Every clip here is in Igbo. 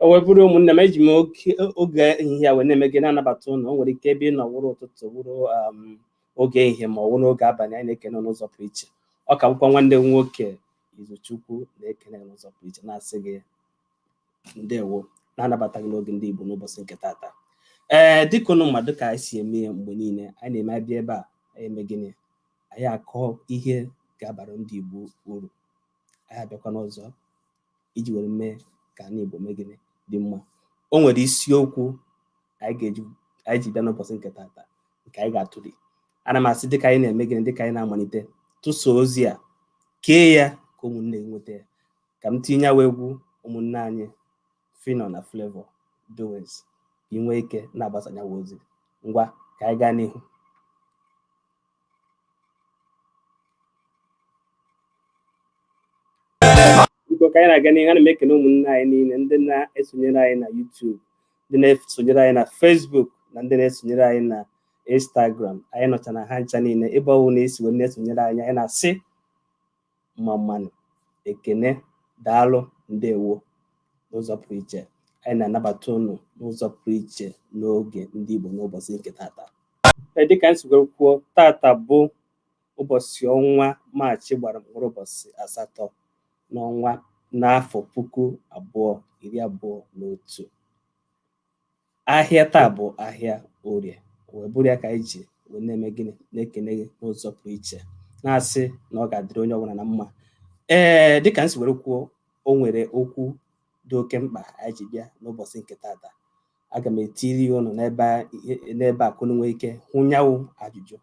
o wee bụrụ ụmụnne m eji m oge ehihie a wee na-eme gịnị na-anabata ụnụ o nwere ike ebe ị nọ wụrụ ụtụtụ wụrụ um, oge ehihie ma ọ wụrụ oge abalị anyị na-ekene n'ụzọ pụrụ iche ọ ka bụkwa nwanne m nwoke Izuchukwu na-ekene n'ụzọ pụrụ iche na-asị gị ndewo na-anabata gị n'oge ndị Igbo n'ụbọchị nke tata ee dịka ụnụ maara ka anyị si eme ya mgbe niile anyị na-eme abịa ebe a anyị eme gịnị anyị akọ ihe ga-abara ndị Igbo uru anyị abịakwana ọzọ iji were mee ka anị Igbo mee gịnị dị mma o nwere isiokwu anyị ga-eji anyị ji bịa n'ụbọchị nke tata nke anyị ga-atụli ana m asị dịka anyị na-eme gịnị dịka anyị na-amalite tụsa ozi a kee ya ka ụmụnne nweta ya ka m tinye nyawa egwu ụmụnne anyị Phyno na Flavour Doings ka ị nwee ike na-agbasa nyawa ozi ngwa ka anyị gaa n'ihu biko ka anyị na-aga n'ihu ana m ekene ụmụnne anyị niile ndị na-esonyere anyị na YouTube ndị na-esonyere anyị na Facebook na ndị na-esonyere anyị na Instagram anyị nọcha na ha ncha niile ebe ọwụna e si wee na-esonyere anyị anyị na-asị mma mma nụ ekene daalụ ndewo n'ụzọ pụrụ iche anyị na-anabata ụnụ n'ụzọ pụrụ iche n'oge ndị Igbo n'ụbọchị nke tata e, dịka anyị sigoro kwuo tata bụ ụbọchị ọnwa maachị gbara mkpụrụ ụbọchị asatọ n'ọnwa n'afọ puku abụọ iri abụọ na otu ahịa taa bụ ahịa orie wee bụrụ ya ka anyị ji wee na-eme gịnị na-ekene gị n'ụzọ pụrụ iche na-asị na ọ ga-adịrị onye ọbụla na mma ee dịka m si were kwuo o nwere okwu dị oke mkpa anyị ji bịa n'ụbọchị nke tata aga m etiri ya ụnụ n'ebe a- ihe- n'ebe a ka unu nwee ike hụ nyanwụ ajụjụ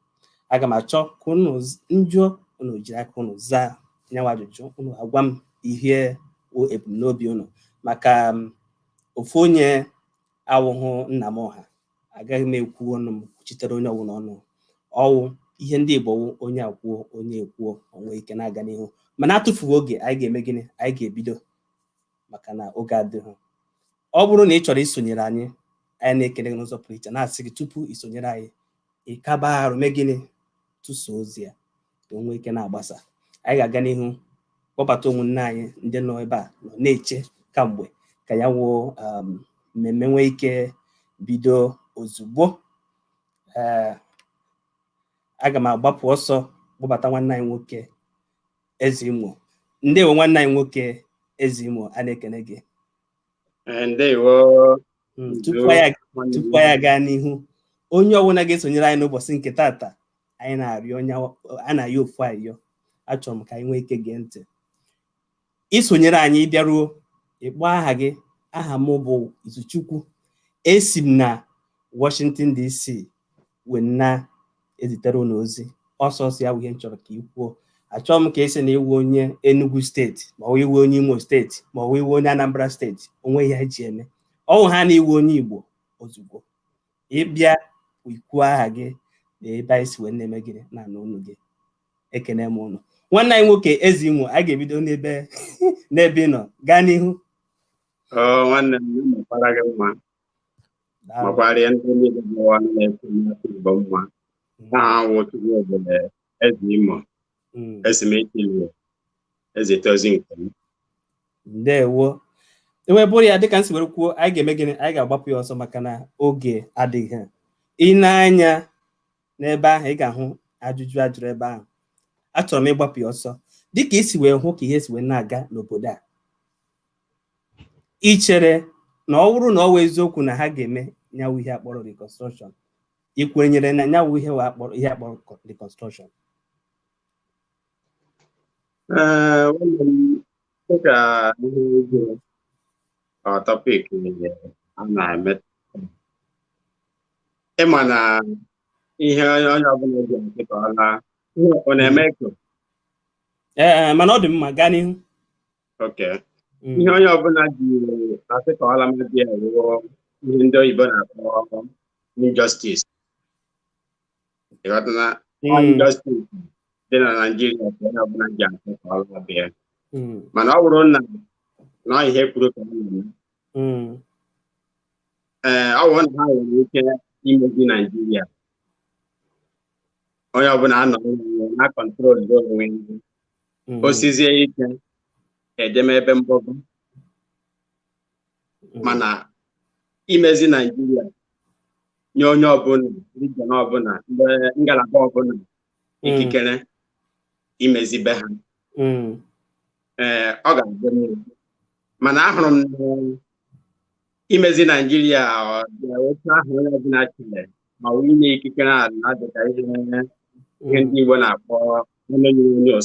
aga m achọ ka unu z- m jụọ unu jiri aka unu zaa nyanwụ ajụjụ unu agwa m ihe wụ ebumnobi unu maka m, ofu onye awụhụ nna m ọha agaghị m ekwu ọnụ m kwuchitere onye ọwụna ọnụ ọ wụ ihe ndị Igbo wụ onye a kwuo onye a kwuo o nwee ike na-aga n'ihu mana atụfughị oge anyị ga-eme gịnị anyị ga-ebido maka na oge adịghị ọ bụrụ na ị chọrọ isonyere anyị anyị na-ekene gị n'ụzọ pụrụ iche na-asị gị tupu i sonyere anyị ịkaba arụ mee gịnị tụsa ozi a ka o nwee ike na-agbasa anyị ga-aga n'ihu kpọbata ụmụnne anyị ndị nọ ebe a nọ na-eche kamgbe ka ya wụ um, mmemme nwee ike bido ozugbo ee aga m agbapụ ọsọ kpọbata nwanne anyị nwoke eze imo ndewo nwanne anyị nwoke eze imo a na-ekene gị Eh, ndewo Mm, tupu anyị aga- tupu anyị aga n'ihu onye ọbụla ga-esonyere anyị n'ụbọchị nke taata anyị na-arịọ onye a na-ayọ ofu ayọ achọrọ m ka anyị nwee ike gee ntị i sonyere anyị ị bịaruo ị kpọọ aha gị aha m bụ Izuchukwu esi m na Washington DC wee na-ezitere unu ozi ọsọ ọsọ ya bụ ihe m chọrọ ka ị kwuo achọọ m ka ị sị na ị wụ onye Enugu steeti ma ọ wụ ị wụ onye Imo steeti ma ọ wụ ị wụ onye Anambra steeti o nwee ihe ha ji eme ọ wụ ha na ị wụ onye Igbo ozugbo ị bịa i kwuo aha gị na ebe anyị si wee na-eme gịnị na-anụ onu gị ekene m unu nwanne anyị nwoke eze imo a ga-ebido n'ebe n'ebe ị nọ gaa n'ihu nwanne m makwara gị mma makwara ya ndị niile bụ ọnụ na-ekwu n'afọ igbo mma aha m wụ chukwu obere eze imo mm. esi m eche wee ezite ozi nke m ndewo o wee bụrụ ya dịka m si were kwuo anyị ga-eme gịnị anyị ga-agbapụ ya ọsọ maka na oge adịghị i nee anya n'ebe ahụ ị ga-ahụ ajụjụ a jụrụ ebe ahụ achọrọ m ịgbapụ ya ọsọ dịka i si wee hụ ka ihe si wee na-aga n'obodo a i chere na ọ bụrụ na ọ wụ eziokwu na ha ga-eme nya wụ ihe a kpọrọ reconstruction i kwenyere na nya wụ ihe ee a kpọrọ ihe a kpọrọ co- reconstruction Ee, nwanne m, dịka ihe ego ọ topic ihe a na-eme ị ma na ihe onye onye ọbụla ji nke ka ọ laa ihe ọ na-eme echo mana ọ dị mma gaa n'ihu Okay. Mm. ihe onye ọbụla ji asị ka ọ lama be ya wụ ihe ndị oyibo na-akpọ injustice ị ghọtana Mm. injustice dị na naijiria ka onye ọbụla ji asị ka ọ lama be ya Mm. mana ọ bụrụ na na ihe ha kwuru ka ọ na-eme Mm. ee ọ bụrụ na ha nwere ike imezi naijiria onye ọbụla anọ na-control onwe ya. Mm. o sizie ike e jeme ebe mgbọgo Mm. mana imezi naijiria nye onye ọbụla region ọbụla ngalaba ọbụla Mm. ikikere imezi be ha Mm. ee ọ ga-adị mma mana ahụrụ m na imezi naijiria otu ahụ onye ọbụla chere ma ọ inye ikikere a na-adịka ihe ihe ndị igbo na-akpọ onyonyo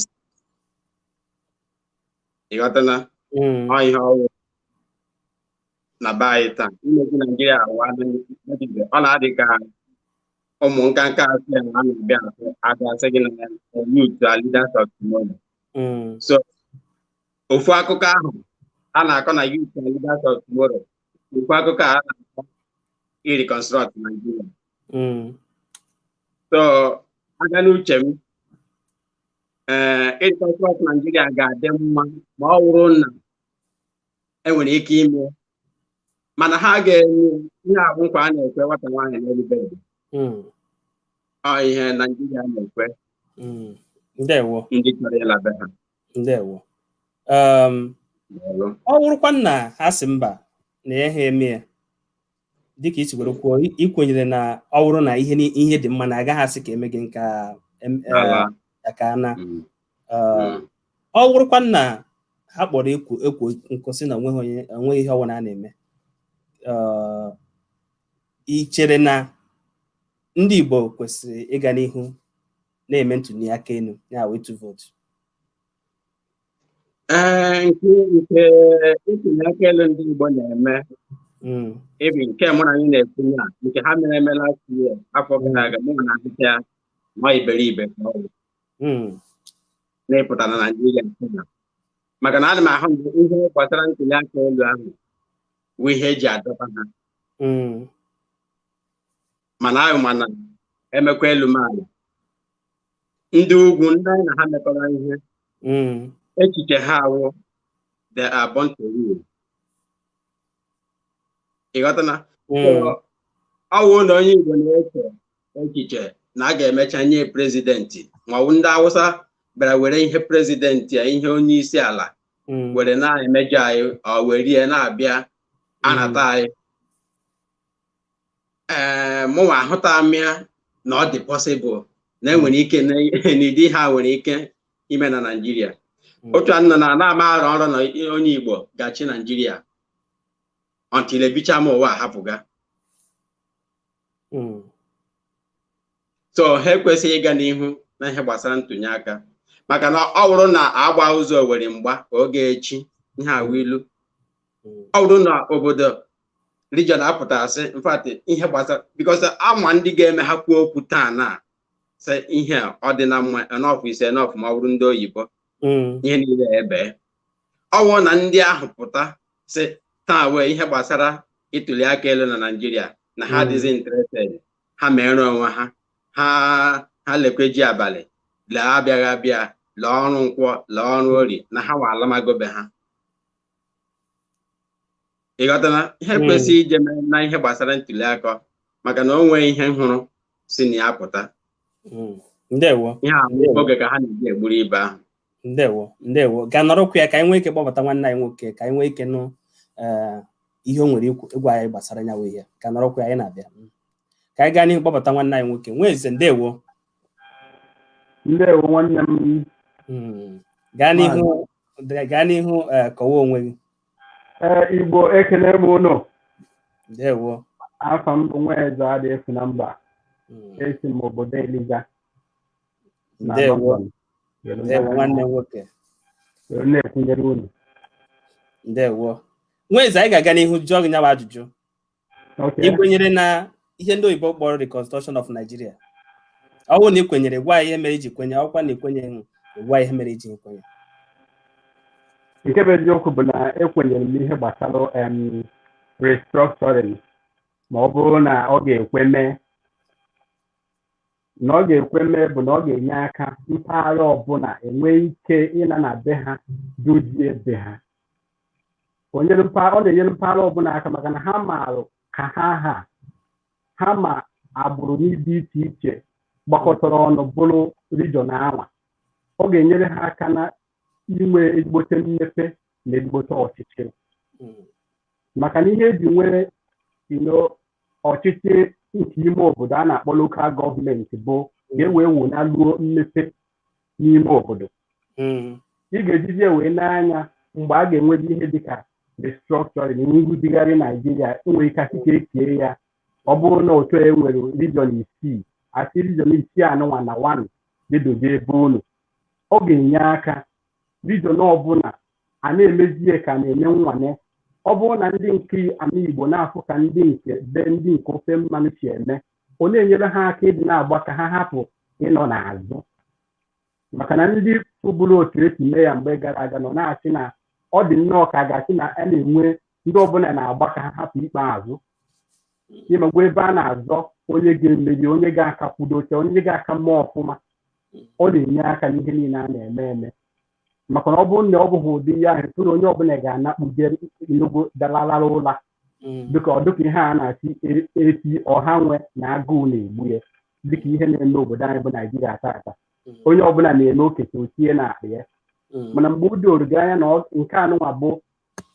ịghọtana mm. ọ ihe ọ wụ na be anyị taa imezi naijiria awa ọ na-adị ka ụmụ nkanka asị a na-abịa abịa asị gị na youth are leaders of tomorrow mm. so ofu akụkọ ahụ a na-akọ na youth are leaders of tomorrow ofu akụkọ a na-akọ ireconstruct Nigeria Mm. so aga n'uche m ee ireconstruct Nigeria ga-adị mma ma ọ bụrụ na enwere ike ime mana ha ga-enye ihe a bụ nkwa a na-ekwe nwata nwaanyị n'elu bed Mm. ọ ihe Naijiria na-ekwe Mm. ndewo ndị chọrọ ịla be ha ndewo um, ọ wụrụkwa na ha sị mba na ya ha eme ya dịka i si were kwuo ikwenyere na ọ wụrụ na ihe ihe dị mma na agaghị asị ka eme gị nke aka e, na mm. um, mm. ọ wụrụkwa na ha kpọrọ ekwo ekwo nkụ sị na onweghị ihe ọbụla a na-eme uh, i chere na ndị Igbo kwesịrị ịga n'ihu na-eme ntuli aka elu ya wụ ịtụ vootu ee nke nke ntuli aka elu ndị Igbo na-eme Mm, even nke mụ na anyị na-ekwu ya nke ha mere eme last year afọ gara aga mụnwa ahụta ya na iberibe ka ọ bụ mm, na ịpụta na Naịjirịa nke na maka na ana m ahụ mgbe ihe gbasara ntuli aka elu ahụ bụ ihe eji adọba ha mm, mana anyị ma na emekwa elu mee ala ndị ugwu ndị anyị na ha mekọrọ ihe mm. echiche ha awụ they are born to rule ịghọtana mm. ọwụ na onye Igbo na-eche echiche na a ga-emecha nye prezidenti maọbụ ndị Awụsa bịara were ihe prezidenti a ihe onye isi ala mm. were na-emejọ anyị ọ were na-abịa anata anyị ee mụnwa ahụta m ya na ọ dị possible na enwere ike n'ịdị ha nwere ike ime na Naịjirịa otu a nọ na na-ama arọ nrọ na onye Igbo ga-achị Naịjirịa until ebicha m ụwa ahapụga so ha ekwesịghị ịga n'ihu na ihe gbasara ntụnye aka maka na ọ bụrụ na agba ụzọ owere mgba ọ ga-echi ihe a wụ ilu ọ bụrụ na obodo region apụta sị in fact ihe gbasara because ama ndị ga-eme ha kwuo okwu taa na sị ihe ọ dị na mma enough is enough ma ọ bụrụ ndị oyibo hmm. ihe niile ebe ọwụ na ndị ahụ pụta sị taa wee ihe gbasara ịtụli aka elu na naijiria na ha hmm. adịghị interested ha mere onwe ha ha ha lekwe ji abalị lee abịaghị abịa lee ọrụ nkwọ lee ọrụ orie na ha wa alamago be ha ị ghọtana ihe hmm. kwesịrị ije na ihe gbasara ntuli aka maka na o nwee ihe m hụrụ si na ya pụta hmm. ndewo ihe a oge ka ha na-eji egburu ibe ahụ ndewo ndewo ka nọrọkwa ka anyị nwee ike kpọbata nwanne anyị nwoke ka anyị nwee ike nụ eh, ihe o nwere ịgwa anyị gbasara nyawa ihe ka nọrọkwa anyị na-abịa hmm. ka anyị gaa n'ihu kpọbata nwanne anyị nwoke nweze ndewo ndewo nwanne m Mm. gaa n'ihu gaa n'ihu eh, kọwa onwe gị ee igbo ekele m ụnụ ndewo afa m bụ nweze adị efu na mba Mm. esi m obodo eliza na ndewo London. ndewo nwanne m nwoke Were na-ekwunyere unu ndewo nweze anyị ga-aga n'ihu jụọ gị nyawa ajụjụ Okay. ikwenyere na ihe ndị oyibo kpọrọ reconstruction of Nigeria ọ bụrụ na ị kwenyere gwa anyị ihe mere iji kwenye ọ wụkwa na ikwenyeghị gwa anyị ihe mere iji kwenye nke bụ eziokwu bụ na ekwenyere m ihe gbasara em, restructuring ma ọ bụrụ na ọ ga-ekwe mee na ọ ga-ekwe mee bụ na ọ ga-enye aka mpaghara ọbụla enwee ike ịna na be ha dozie be ha ọ na-enyere mpaghara ọbụla aka maka na ha maara ka ha ha ha ma agbụrụ n'ịdị iche iche gbakọtara ọnụ bụrụ region anwa ọ ga-enyere ha aka na inwe ezigbote mmepe na ezigbote ọchịchị maka na ihe eji nwee ọchịchị nke ime obodo a na-akpọ local government bụ ka e wee wunaluo mmepe n'ime obodo mm. ị ga-ejizi ya wee n'anya mgbe a ga-enwezi ihe dịka restructuring nrụzigharị naijiria enwere ike asị ka e kie ya ọ bụrụ na otu e nwere region isii asị region isii anụnwa na wan gaa dozie be unu ọ ga-enye aka region ọbụla a na-emezi ya ka na-eme nwane ọ bụrụ na ndị nke ana igbo na-afụ ka ndị nke be ndị nke ofe mmanụ si eme ọ na-enyere ha aka ịdị na-agba ka ha hapụ ịnọ n'azụ maka na ndị fụbụrụ otu esi mee ya mgbe gara aga nọ na-asị na ọ dị nnọọ ka a ga-asị na a na-enwe ndị ọbụla na-agba ka ha hapụ ikpe azụ ị makwa ebe a na-azọ onye ga-emeri onye ga-aka kwudo oche onye ga-aka mma ọfụma ọ na-enye aka n'ihe niile a na-eme eme maka na ọ bụrụ na ọ bụghị ụdị ihe ahụ tụ na onye ọbụla ga-anakpuje nnukwu dalalala ụla Mm. dịka ọ dịka ihe a na-asị e- efi ọha nwe na agụụ na-egbu ya dịka ihe na-eme obodo anyị bụ naijiria tata Mm. onye ọbụla na-eme okete otie na akpa ya Mm. mana mgbe o doro gị anya na ọ- nke anụnwa bụ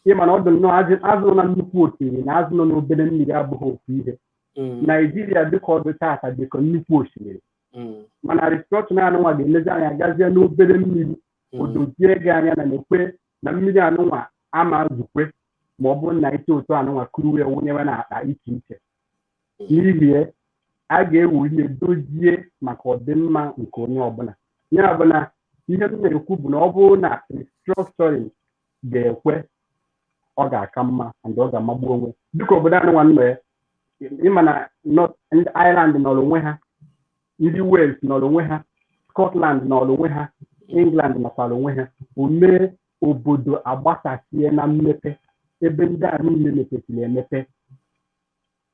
ịma na ọ dị nnọọ azụ- azụ nọ na nnukwu osimiri na azụ nọ n'obere mmiri abụghị ofu ihe Mm. naijiria dịka ọ dị tata dịka nnukwu osimiri Mm. mana restructuring anụnwa ga-emezi anyị agazie n'obere mmiri Mm. odozie gị anya na nekwe na mmiri anụnwa ama ezukwe ma ọ bụrụ na ite otu anụnwa kuru wee wụnyewe na akpa iche iche n'ihi ya a ga-eweru ya dozie maka ọdịmma nke onye ọbụla ya bụ na ihe m na-ekwu bụ na ọ bụrụ na restructuring ga-ekwe ọ ga-aka mma and ọ ga-amagbu onwe dịka obodo anyị nwa nọ ya ịma na North- ndị Ireland nọrọ onwe ha ndị Wales nọrọ onwe ha Scotland nọrọ onwe ha England nọkwara onwe ha o mee obodo agbasasie na mmepe ebe ndị a niile mepesiri emepe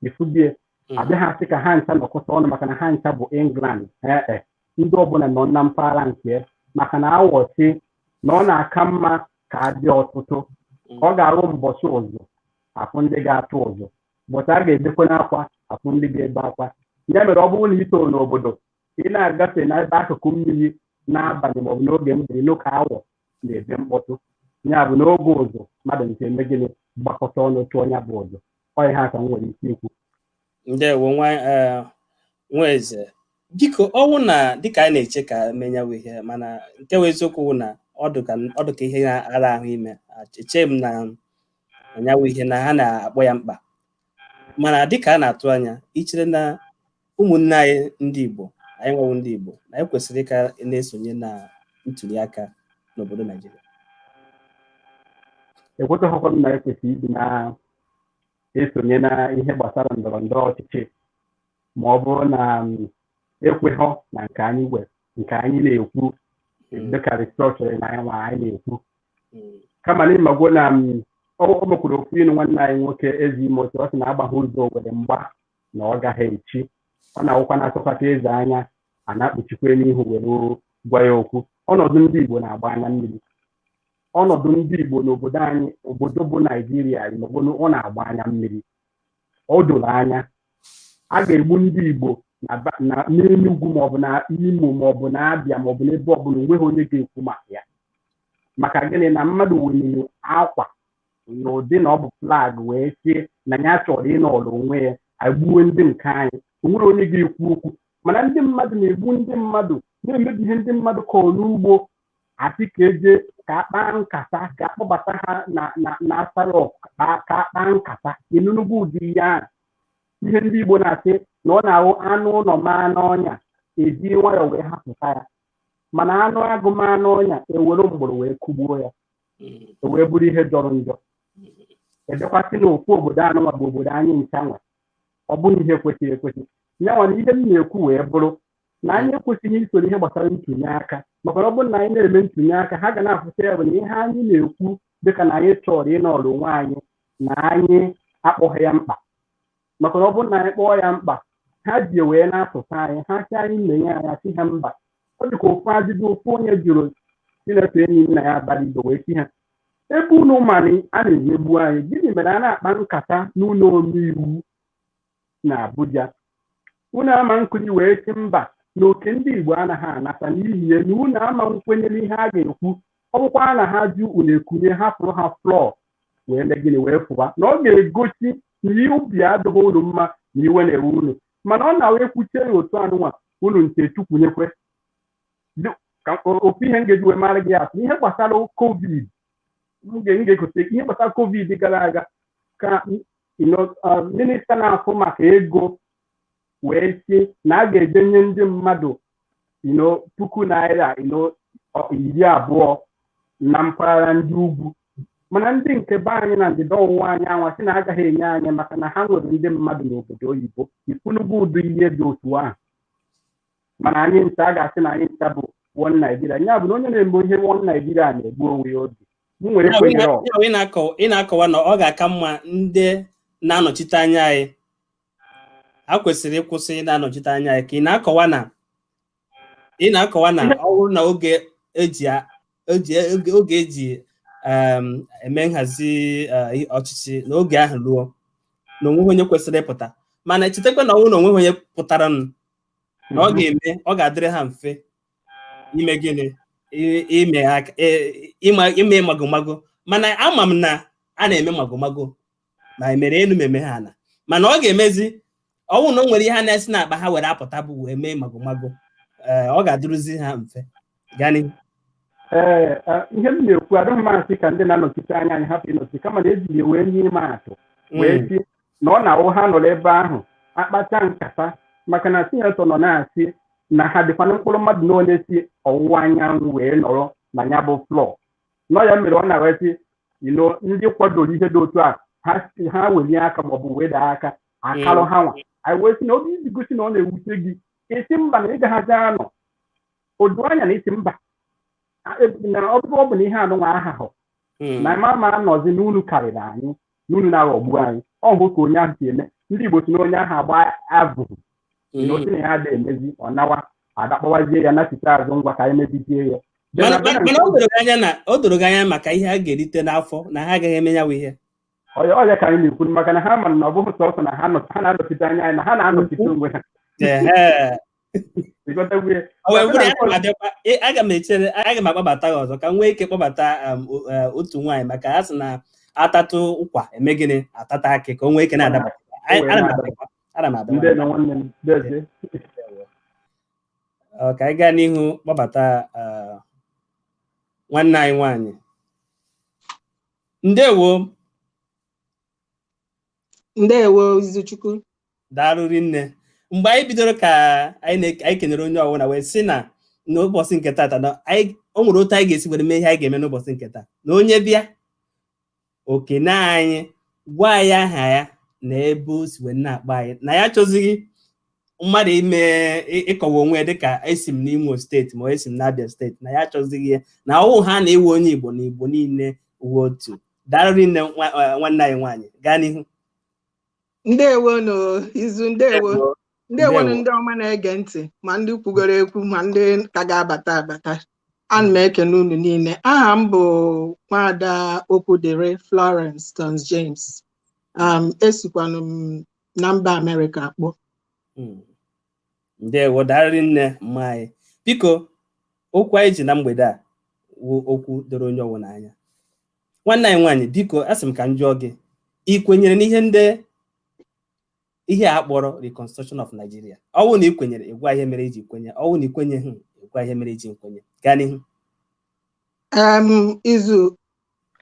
ị fụgo ya hmm. abịaghị asị ka ha ncha nọkọta ọnụ maka na ha ncha bụ england ee eh, eh. ndị ọbụla nọ na mpaghara nke maka na awọ sị na ọ na-aka mma ka adị ọtụtụ hmm. ọ ga-abụ mbọchị ụzụ afụ ndị ga-atụ ụzụ mbọchị a ga-ebekwanụ akwa afụ ndị ga-ebe akwa ya mere ọ bụrụ na i too n'obodo ị na-agafe n'ebe akụkụ mmiri n'abalị maọbụ n'oge mgbede nụ ka awọ na-ebe mkpọtụ ya bụ n'oge ụzụ mmadụ ncha eme gịnị gbakọta ọnụ tụọ ya bụ ụzụ ọ ihe a ka m nwere ike ikwu ndewo nwa eh, nwa eze biko ọ wụ na dịka anyị na-eche ka eme nya wụ ihe mana nke wụ eziokwu wụ na ọ dị ka ọ dị ka ihe na-ara ahụ ime eche m na nya wụ ihe na ha na-akpọ ya mkpa mana dịka a na-atụ anya ichere na ụmụnne anyị ndị Igbo anyị nwa wụ ndị Igbo na anyị kwesịrị ịka na-esonye na ntuli aka n'obodo Naijiria ekwetaghịkwa m na ekwesịrị ịdị na-esonye na ihe gbasara ndọrọ ndọrọ ọchịchị ma ọ bụrụ na ekweghọ na nke anyị we nke anyị na-ekwu dịka restructuring na anyị nwa anyị na-ekwu kama na ịmagwo na o nwekwara okwu inu nwanne anyị nwoke Eze Imo tụ ọ sị na agbaghị ụzọ owere mgba na ọ gaghị echi ọ na-awụkwa na asọkata eze anya a na-ekpuchi akwa n'ihu were gwa ya okwu ọnọdụ ndị Igbo na-agba anya mmiri ọnọdụ ndị Igbo n'obodo anyị obodo bụ Naijiria na ọ na-agba anya mmiri o doro anya a ga-egbu ndị Igbo n'Enugwu maọbụ na Imo maọbụ na Abịa maọbụ n'ebe ọbụla onweghị onye ga-ekwu maka ya maka gịnị na mmadụ weniri akwa n'ụdị na ọ bụ flag wee sị na ya chọrọ ịnọrọ onwe ya agbuwe ndị nke anyị o nwere onye ga-ekwu okwu mana ndị mmadụ na-egbu ndị mmadụ na-emebi ihe ndị mmadụ kọrọ n'ugbo asị ka eje ka akpaa nkata ka akpọbata ha na na na Aso Rock ka ka akpaa nkata ị nụnugo ụdị ihe ahụ ihe ndị igbo na-asị na ọ na-abụ anụ ụlọ maa n'ọnya eji nwayọọ wee hapụta ya mana anụ agụ maa n'ọnya ewere mgbọrọ wee kụgbuo ya o wee bụrụ ihe jọrọ njọ ebekwasị na ofu obodo anụnwa bụ obodo anyị ncha nwe ọ bụghị ihe kwesịrị ekwesị ya nwa na ihe m na-ekwu wee bụrụ na anyị ekwesịghị isoro ihe gbasara ntụnye aka maka na ọ bụrụ na anyị na-eme ntụnye aka ha ga na-afụta ya bụ na ihe anyị na-ekwu dịka na anyị chọrọ ịnọrọ onwe anyị na anyị akpọghị ya mkpa maka na ọ bụrụ na anyị kpọọ ya mkpa ha ji ya wee na-asụta anyị ha sị anyị menye ya anyị sị ha mba ọ dị ka ofu ajụjụ ofu onye jụrụ sinetọ Enyinnaya Abaribe wee sị ha ebe unu ma na a na-emegbu anyị gịnị mere a na-akpa nkata n'ụlọ omeiwu na abuja unu ama nkunie wee sị mba na oke ndị igbo anaghị anata n'ihi ya na unu ama nkwenye n'ihe a ga-ekwu ọ bụkwa na ha jụ unu ekunie hapụrụ ha floor wee mee gịnị wee pụwa na ọ ga-egosi na obi adịghị unu mma na iwe na-ewe unu mana ọ na-awụ ekwuchie ya otu anụnwa unu nke chukwunyekwe Dị- ka o- ofu ihe m ga-eji wee maara gị atụ ihe gbasara covid m ga- m ga-egote ihe gbasara covid gara aga ka m- you know, uh, minista na-afụ maka ego wee sị na a ga-ejenye ndị mmadụ you know puku naira you know ọ- iri abụọ na mpaghara ndị ugwu mana ndị nke be anyị na ndịda ọwụwa anyanwụ sị na agaghị enye anyị maka na ha nwere ndị mmadụ n'obodo oyibo ị fụnugo ụdị ihe dị otu ahụ mana anyị ncha a ga-asị na anyị ncha bụ one Nigeria ya bụ na onye na-eme ihe one Nigeria na-egbu onwe ya obi m nwere Ya bụ, ị kwenyere na- ọgụ ya bụ, ị na-akọ- ị na-akọwa na ọ ga-aka mma ndị na-anọchite anya anyị a kwesịrị ịkwụsị ị na-anọchite anya anyị ka ị na-akọwa na ị na-akọwa na ọ bụrụ na oge eji a- oge oge- oge eji em, eme nhazi eh, ọchịchị na oge ahụ ruo na onweghị onye kwesịrị ịpụta mana chetakwa na ọ bụrụ na onweghị onye pụtaranụ na ọ ga-eme ọ ga-adịrị ha mfe ime gịnị I- ime aka- e- ịma- ime magomago mana ama m na a na-eme magomago ma emere elu ma emere ala mana ọ ga-emezi ọ bụrụ na o nwere ihe a na-esi n'akpa ha were apụta bụ wee mee magomago ee ọ ga-adịrụzi ha mfe gani ee eh, ihe m na-ekwu adịghị m asị ka ndị na-anọchite anya anyị hapụ ịnọchi kama na eji ya wee nye ịma atụ wee Mm, sị na ọ na-awụ ha nọrọ ebe ahụ akpacha nkata maka na sinetọ nọ na-asị na ha dịkwana mkpụrụ mmadụ na onye si ọwụwa anyanwụ wee nọrọ na ya bụ floor na ọ ya mere ọ na-wee sị ino ndị kwadoro ihe dị otu a ha si ha welie aka maọbụ weda aka akalụ ha nwa anyị wee sị na ọ bụ iji gosi na ọ na-ewute gị ị sị mba na ị gaghịzi anọ odo anya na ị sị mba A- e- na ọ bụrụ ọ bụ na ihe anụnwa aha hụ na m ama anọzi na unu karịrị anyị na unu na-aghọgbu anyị ọ bụ ka onye ahụ si eme ndị Igbo sị na onye ahụ agba abụghị Mm. na otu na ya ada emezi ọ nawa adakpọwazie ya nachite azụ ngwa ka anyị mezie ya Then mana abịa na mana- mana o doro gị anya na o doro gị anya maka ihe a ga-erite n'afọ na ha agaghị eme ya bụ ihe ọ ya ọ ya ka anyị na-ekwu maka na ha ma na ọ bụghị sọsọ na ha nọ- ha na-anọchite anya anyị na ha na-anọchite onwe ha Ehe. ị ghọtago ya O wee bụrụ ya na abịakwa e- aga m echere aga m akpọbata gị ọzọ ka m nwee ike kpọbata um, o- eh, otu nwaanyị maka ha sị na a tatụ ụkwa eme gịnị a tatụ akị ka o nwee ike na-adaba Anyị- ana m abịakwa. ana m abịa ndewo nwanne m dezie Ndewo. Ọ, ka anyị gaa n'ihu kpọbata ah, nwanne anyị nwanyị ndewo ndewo Izuchukwu daalụ rinne mgbe anyị bidoro ka anyị na- anyị kenere onye ọbụla wee sị na n'ụbọchị nke taata na anyị o nwere otu anyị ga-esi were mee ihe anyị ga-eme n'ụbọchị nke taa na onye bịa o kene anyị gwa anyị aha ya na ebe o si wee na-akpọ anyị na ya achọzighị mmadụ ime ị- ịkọwa onwe ya dịka esi m n'Imo steeti ma ọ esi m n'Abia steeti na ya achọzighị ya na ọ wụhana ị wụ onye Igbo na Igbo niile wụ otu daalụ rinne nwa- eh, nwanne anyị nwaanyị gaa n'ihu ndewonu Izu ndewo ndewonu ndị ọma na-ege ntị ma ndị kwugoro ekwu ma ndị ka ga-abata abata ana m ekene unu niile aha m bụ nwada Okwudịrị Florence Tons James um, esikwanụ m na mba Amerịka akpọ hmm. ndewo daalụ rinne mma anyị biko okwu anyị ji na mgbede a wụ okwu doro onye ọwụna anya nwanne anyị nwaanyị biko asị m ka m jụọ gị ị kwenyere n'ihe ndị ihe a kpọrọ reconstruction of Nigeria ọ wụ na ị kwenyere ị gwa ihe mere i ji kwenye ọ wụ na ị kwenyeghị ị gwa ihe mere i ji nkwenye gaa n'ihu Em, Izu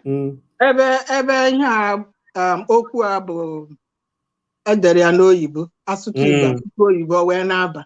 Mm, ebe ebe ihe a um, okwu a bụ e dere ya n'oyibo a sụtụ Igbo Mm. a sụtụ oyibo wee na-aba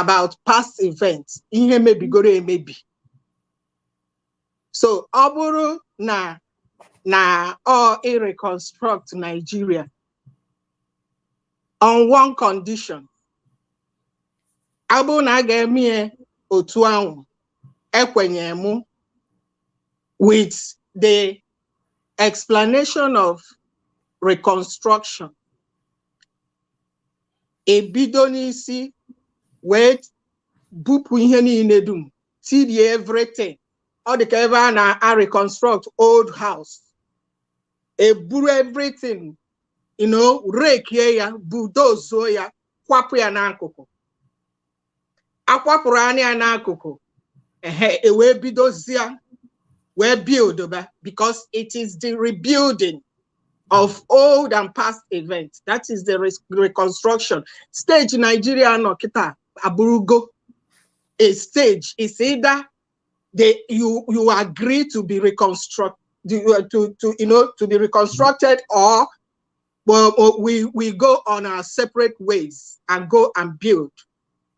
about past events ihe mebigoro emebi so ọ bụrụ na na ọ ịreconstruct Nigeria on one condition ọ bụrụ na a ga-eme ya otu ahụ ekwenye mụ with the explanation of reconstruction ebido n'isi wee bupụ ihe niile dum tirie everything ọ dị ka ebe a na-reconstruct old house eburu everything you know rekie ya bulldozuo ya kwapụ ya n'akụkụ akwapụrụ anị ya n'akụkụ ehe e wee bidozie wee build ba because it is the rebuilding of old and past events that is the re- reconstruction stage Nigeria nọ kịta abụrụgo a stage is either they you you agree to be reconstruct to, to to you know to be reconstructed or Well, uh, we, we go on our separate ways and go and build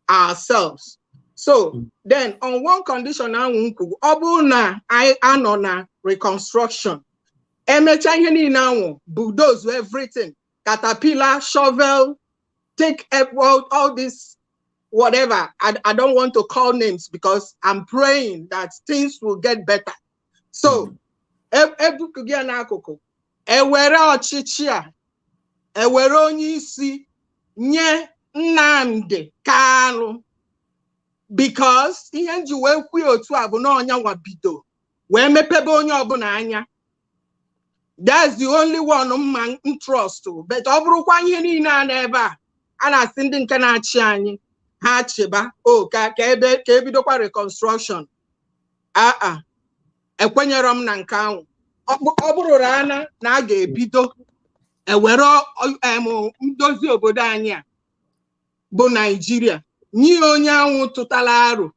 ourselves. So hmm. then on one condition now ọ na I anọ na reconstruction emecha ihe niile anwụ bulldoze everything caterpillar shovel take all, all this whatever I, I don't want to call names because I'm praying that things will get better so ebupụ gị ya n'akụkụ ewere ọchịchị a ewere onye isi nye Nnamdi Kanu because ihe nji wee kwuo otu a bụ na ọ nyanwa bido wee mepebe onye ọbụla anya that's the only one m ma-trust but ọ bụrụkwa ihe niile a n'ebe a a na-asị ndị nke na-achị anyị ha chịba o ka ka ebe ka ebidokwa reconstruction aa ekwenyerọ m na nke anwụ ọ bụrụ ana na a ga-ebido ewere em ndozi obodo anyị a bụ naijiria nye onye anwụ tụtara aro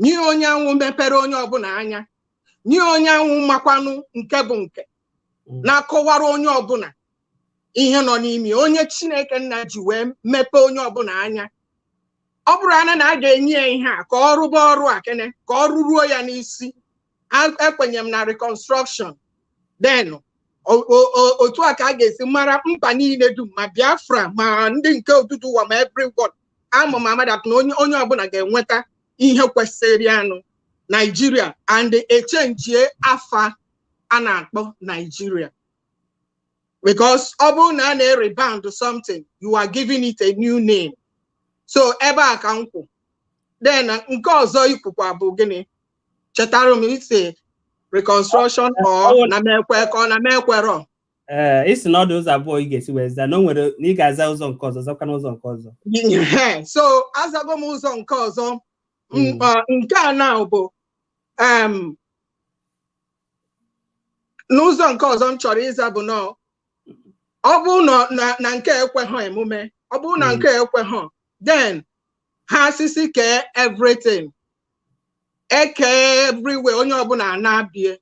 nye onye anwụ mepere onye ọbụla anya nye onye anwụ makwanụ nke bụ nke na-akọwara onye ọbụla ihe nọ n'ime onye chineke nna ji wee mepee onye ọbụla anya ọ bụrụ ana na a ga-enye ya ihe a ka ọ rụba ọrụ a kene ka ọ rụruo ya n'isi A- ekwenye m na reconstruction then o- o- o- otu a ka a ga-esi mara mba niile dum ma biafra ma ndị nke Oduduwa ma everyone ama m ama that na onye onye ọbụla ga-enweta ihe kwesịrị ya na naijiria and echenjie afa a na-akpọ naijiria because ọ bụrụ na a na-rebrand something you are giving it a new name so ebe a ka m kwụ then nke ọzọ i kwukwa bụ gịnị chetara m ị sị reconstruction ọ na-emekwe ka ọ na-emekwerọ ee ị sị na ọ dị ụzọ abụọ ị ga-esi wee zaa na o nwere na ị ga-aza ụzọ nke ọzọ zakwa n'ụzọ nke ọzọ Ehe, so azago m ụzọ nke ọzọ M- Mm. ọ, nke a na bụ em, n'ụzọ nke ọzọ m chọrọ ịza bụ na ọ bụrụ na- na na nke ekweghọ emume ọ bụrụ na Mm. nke ekweghọ then ha asị sị kee everything eke everywhere onye ọbụla naa be ya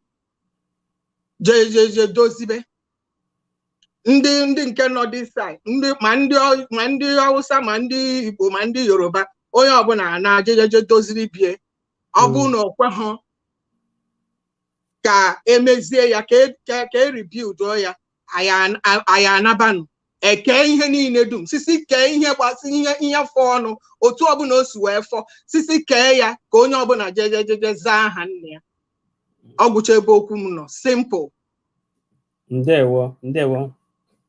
je je je dozibe ndị ndị nke nọ this side ndị ma ndị Ọ- ma ndị Ọwụsa ma ndị Igbo ma ndị Yoruba onye ọbụla naa je je je doziri be ya ọ bụrụ na o kweghọ ka emezie ya ka e- ka ka e rebuild ya anyị a- anyị anabanụ e kee ihe niile dum sisi kee ihe gbasị ihe ihe fọ ọnụ otu ọbụla o si wee fọ sisi kee ya ka onye ọbụla jeje jeje zaa aha nna ya ọ gwụcha ebe okwu m nọ simple ndewo ndewo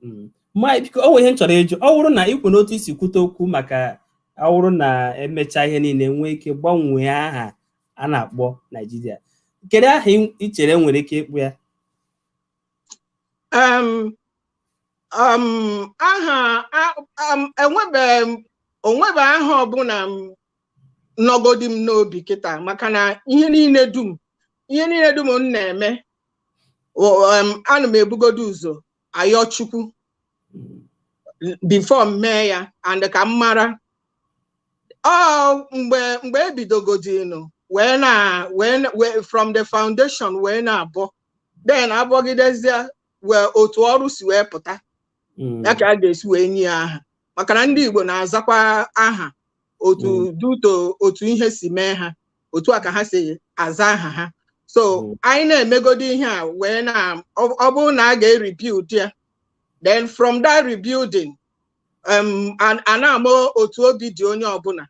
mm. ma biko o nwere ihe m chọrọ ịjụ ọ bụrụ na ikwu n'otu i si kwute okwu maka ọ bụrụ na emechaa ihe niile nwee ike gbanwee aha a na-akpọ Naijiria kedu aha i chere e nwere ike ịkpọ ya um, um, aha um, enwebe onwebe aha ọbụla m nọgodi m n'obi kịta maka na ihe niile dum ihe niile dum m na-eme O- em, ana m ebugodo ụzọ ayọ chukwu before m mee ya and ka m mara ọ mgbe mgbe ebidogodinu wee na wee na- wee- from the foundation wee na-abọ then abọgidezie wee otu ọrụ si wee pụta Mm. ya ka a ga-esi wee nye ya aha maka na ndị Igbo na-azakwa aha otu Mm. due to otu ihe si mee ha otu a ka ha si aza aha ha so Mm. anyị na-emegodi ihe a wee na ọ ọ bụrụ na a ga-rebuild ya then from that rebuilding um, a- a na-ama otu obi dị onye ọbụla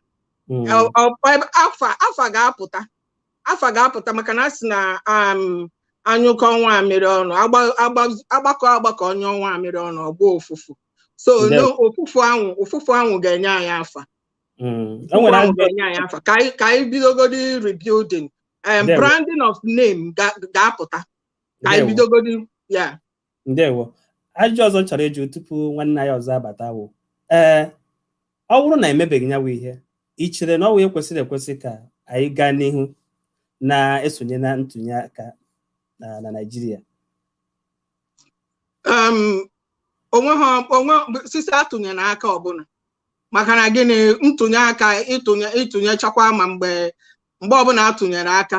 Mm. Ọ- ọ- ọ- afa afa ga-apụta afa ga-apụta maka na a sị na um, a nyụkọọ nwamịrị ọnụ agba- agba- agbakọ agbakọ nyụọ nwamịrị ọnụ ọ gbaa ụfụfụ so Ndewo. no ụfụfụ ahụ ụfụfụ ahụ ga-enye anyị afa Mm. O ụfụfụ nwere ahụ ajọ ga-enye anyị afa ka anyị ka anyị bidogodi rebuilding um, Ndewo. branding of name ga- ga-apụta ka anyị Ndewo. bidogodi ya ndewo ajụjụ ọzọ m chọrọ ịjụ tupu nwanne anyị ọzọ abata wụ ee ọ bụrụ na emebeghị ya wụ ihe i chere na ọ wụ ihe kwesịrị ekwesị ka anyị gaa n'ihu na-esonye na ntụnye aka na na Naịjirịa onwe ha o nwezi isi atụnyere aka ọbụla maka na gịnị ntụnye aka ịtụnye ịtụnyechakwa ma mgbe mgbe ọbụla atụnyere aka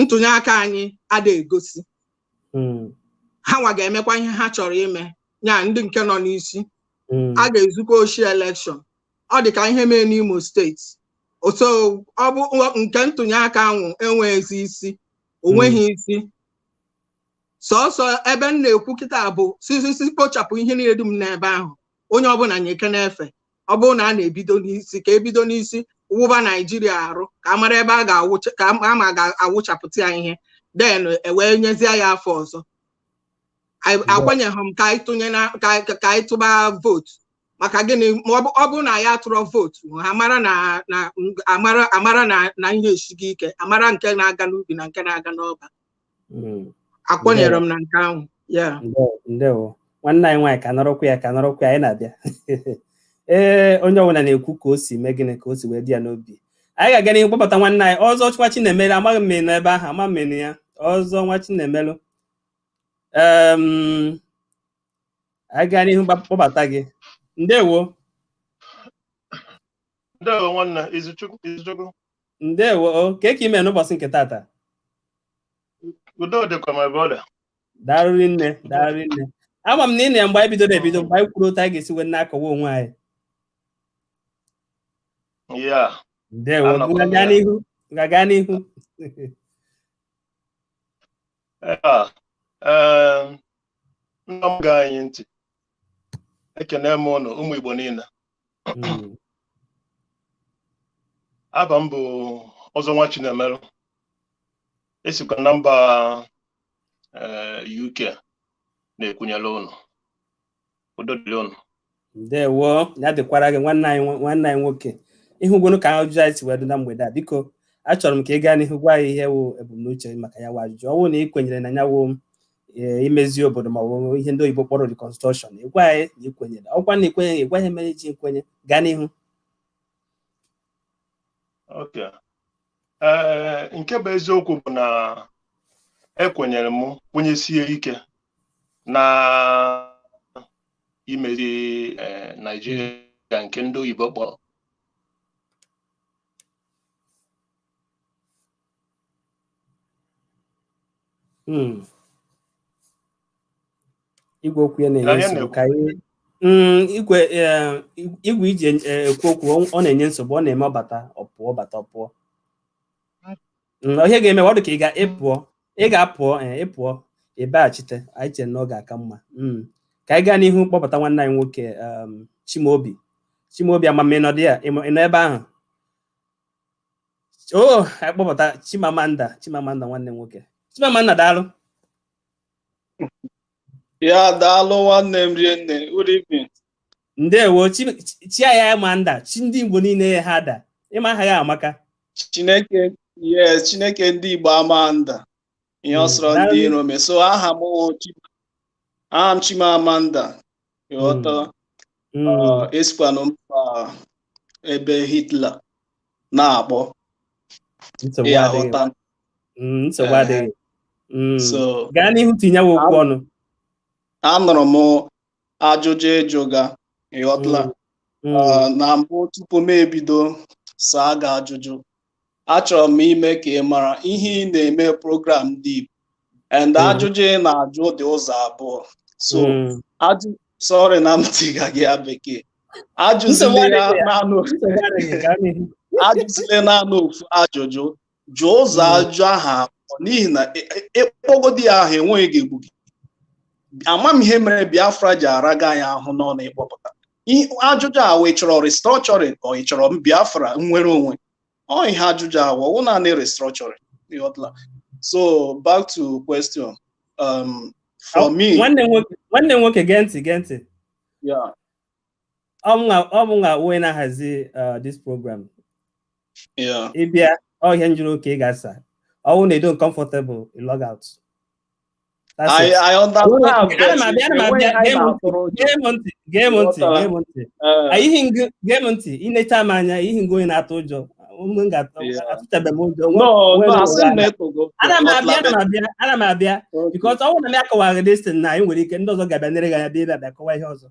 ntụnye aka anyị ada egosi ha nwa ga-emekwa ihe ha chọrọ ime ya ndị nke nọ n'isi a ga-ezukwa oshi elekshọn ọ dị ka ihe mee n'Imo steeti so ọ bụ nke ntụnye aka ahụ enweghịzi isi onweghị isi sọsọ ebe m na-ekwu kịta bụ sị si isi kpochapụ ihe niile dum n'ebe ahụ onye ọbụla nyekene efe ọ bụrụ na a na-ebido n'isi ka ebido n'isi wụba naijiria arụ ka a mara ebe a ga-awụcha ka a ma ga-awụchapụta ya ihe then e wee nyezie ya afa ọzọ Anyị- Mba. ekwenyeghị m ka anyị tụnye na ka anyị- ka anyị tụba vootu maka gịnị ma ọ bụ- ọ bụrụ na ya atụrọ vootu ha mara na na amara amara na na ihe esighị ike amara nke na-aga n'ubi na nke na-aga n'ọba Mm. ekwenyere m na nke ahụ ya Ndewo, ndewo nwanne anyị nwaanyị ka nọrọkwa ya ka nọrọkwa ya anyị na-abịa ee onye ọbụla na-ekwu ka o si mee gịnị ka o si wee dị ya n'obi anyị ga-aga n'ihu kpọbata nwanne anyị ọzọ Nwachinemelu amaghị m ma ị nọ ebe ahụ ama m ma ị nọ ya ọzọ Nwachinemelu Em, anyị gaa n'ihu gba- kpọbata gị ndewo Ndewo nwanne Izuchukwu Izuchukwu ndewo o kee ka ị mee n'ụbọchị nke tata udo dịkwa my brother daalụ rinne daalụ rinne ama m na ị nọ ya mgbe anyị bidoro ebido mgbe anyị kwuru otu anyị ga-esi wee na-akọwa onwe anyị yeah ndewo Anọkwa m gaga ya. n'ihu gaga n'ihu ya ee ndị na-ege anyị ntị ekene m ụnụ ụmụ Igbo niile hmm. aba m bụ ọzọ Nwachinemelu esikwa na mba eh, UK na-ekwunyere ụnụ udo dịrị ụnụ ndewo ya dịkwara gị nwanne anyị nwanne anyị nwoke ị hụgonu ka ajụjụ anyị si wee dị na mgbede a biko achọrọ m ka ị gaa n'ihu gwa anyị ihe wụ ebumnuche maka ya wụ ajụjụ ọ bụrụ na ị kwenyere na ya wụ ee, imezi obodo ma ọ bụ ihe ndị oyibo kpọrọ reconstruction ị gwa anyị na i kwenyere ọkwa na i kwenye ị gwa anyị ihe mere i ji kwenye gaa n'ihu okay ee nke bụ eziokwu bụ na ekwenyere m kwenyesie ike na imezi ee, Naijiria nke ndị oyibo kpọrọ Hmm. igwe okwu ya na-enye nsogbu ka anyị hmm, igwe eh, igwe i ji eh, ekwu okwu ọ na-enye nsogbu ọ na-eme ọ bata ọ pụọ ọ bata ọ pụọ hmm, ihe ga-eme ọ dị ka ị ga ị pụọ ị ga-apụọ eh, ị pụọ ị bịaghachite anyị chere na ọ ga-aka mma ka anyị gaa n'ihu kpọbata nwanne anyị nwoke um, Chimaobi Chimaobi ama m ị nọdụ ya ị nọ ebe ahụ o oh, anyị kpọbata Chimamanda Chimamanda nwanne nwoke Chimamanda daalụ yeah daalụ nwanne m rinne good evening ndewo chi ya ama nda chi ndị Igbo niile ha da ị ma aha gị amaka Chineke yes Chineke ndị Igbo ama nda ihe ọ sọrọ ndị iro mee so aha m aha m Chimamanda ịghọta hmm. uh, esikwanụ mba ebe Hitler na-akpọ ịghọta hmm, nsogbu adịghị hmm. so gaa n'ihu tinyewe okwu ọnụ anụrụ m ajụjụ ị jụga ịghọtala mm. ah, na mbụ tupu m ebido saa gị ajụjụ achọrọ m ime ka ị mara ihe ị na-eme program ndị Igbo and mm. ajụjụ ị na-ajụ dị ụzọ abụọ so mm. ajụ sorry na m tiga gị ya bekee ajụzile naanị ofu ajụjụ jụọ ụzọ hmm. ajụ aha n'ihi na ị kpọgodi ya aha enweghị ga-egbu gị ama m ihe mere Biafra ji araga anyị ahụ n'ọnụ ịkpọpụta ajụjụ a wụ ị chọrọ restructuring ka ị chọrọ Biafra nwere onwe ọ ihe ajụjụ a wụ naanị restructuring so back to question um, for me nwanne nwoke gee ntị gee ntị ọ mụnwa wụ onye na-ahazi uh, this program ị bịa ọ ihe a m jụrụ ka ị ga-asa ọwụ na ị dị uncomfortable log out gee m ntị i necha m anya ihi m wụ onye na-atụ ụjọ atụchabeghị m ụjọ ana m abịa ana m abịa ana m abịa because ọ bụrụ na m akọwaghị this thing na anyị nwere ike ndị ọzọ ga-abịa nere gị anya bịa bịa kọwa ihe ọzọ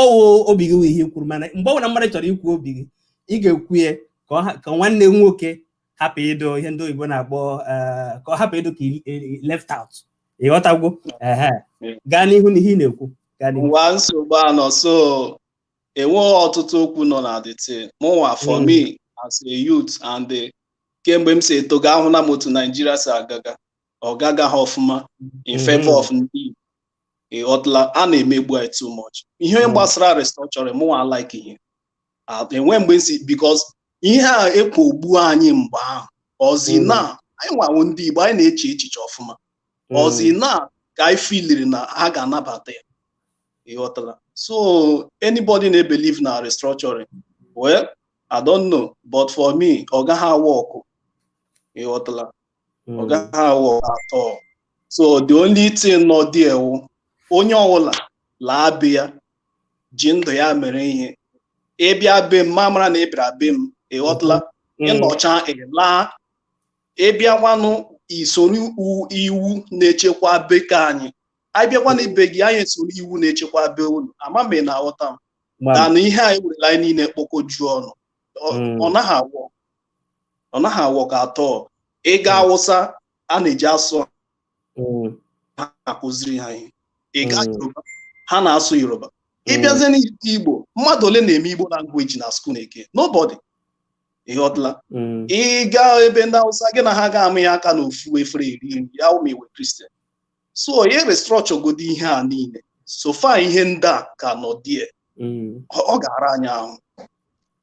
ọwụ obi gị wụ ihe i kwuru mana mgbe ọbụla mmadụ chọrọ ikwu obi gị ị ga-ekwu ya ka nwanne nwoke hapụ ịdụ ihe ndị oyibo na-akpọ eh, ka ọ hapụ ịdụ ka left out ịghọtagwo gaa n'ihu na ihe ị na-ekwu nwa nsogbu anọ so enweghị ọtụtụ okwu nọ na this thing mụnwa for hmm. me as a youth and eh, kemgbe m si etoga ahụla m otu Naijiria si agaga ọ gagaha ọfụma in Mhm. favor of ndị Igbo. Ị ghọtala a na-emegbu anyị too much ihe Mm. gbasara restructuring mụnwa like ihe Ah, enwe mgbe m si because ihe a ekpogbu anyị mgbe ahụ ọzi Mm. na anyị nwa wụ ndị Igbo anyị na-eche echiche ọfụma ọzi na ka anyị feeliri na ha ga-anabata ya Ị ghọtala so anybody na-ebelieve na restructuring well I don't know but for me ọ gaghị awork Ị ghọtala ọ hmm. gaghị awork at all so the only thing nọ there wụ onye ọwụla laa be ya ji ndụ ya mere ihe ị bịa be m ma mara na ị bịara be m ịghọtala hmm. ị nọcha ị laa ị bịakwanụ i soro iwu na-echekwa be nke anyị anyị bịakwanụ be gị anyị esoro iwu na-echekwa be unu ama m na aghọta m na ihe anyị werela anyị niile kpọkojuo ọnụ ọ hmm. naghị awork ọ naghị a-work at all ịga hmm. awụsa a na-eji asụ hmm. ha akụziri ha ihe ịga hmm. yoruba ha na-asụ yoruba ịbịazie n'igbo mmadụ ole na-eme igbo language na school eke nobody ịghọtala ịga ebe ndị awụsa gị na ha ga-amanye aka n'ofu efere eri nri ya wụ ma ị wụ christian so ya restructuregodi ihe a niile so far ihe ndị a ka nọ there ọ ga-ara anyị ahụ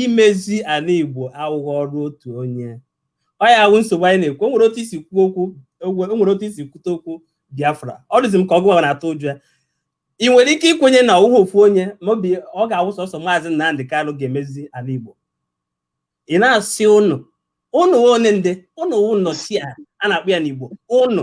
imezi ala Igbo awụghị ọrụ otu onye ọ ya wụ nsogbu anyị na-ekwu o nwere otu i si kwuo okwu o nwere otu i si kwute okwu Biafra ọ dịzi m ka ọ gụwa na-atụ ụjọ ya ị nwere ike ikwenye na ọwụghị ofu onye ma ọ bụ ọ ga-awụ sọsọ maazị Nnamdị Kanụ ga-emezi ala Igbo ị na-asị ụnụ ụnụ one ndị ụnụ wụ nnọchi a a na-akpọ ya n'Igbo ụnụ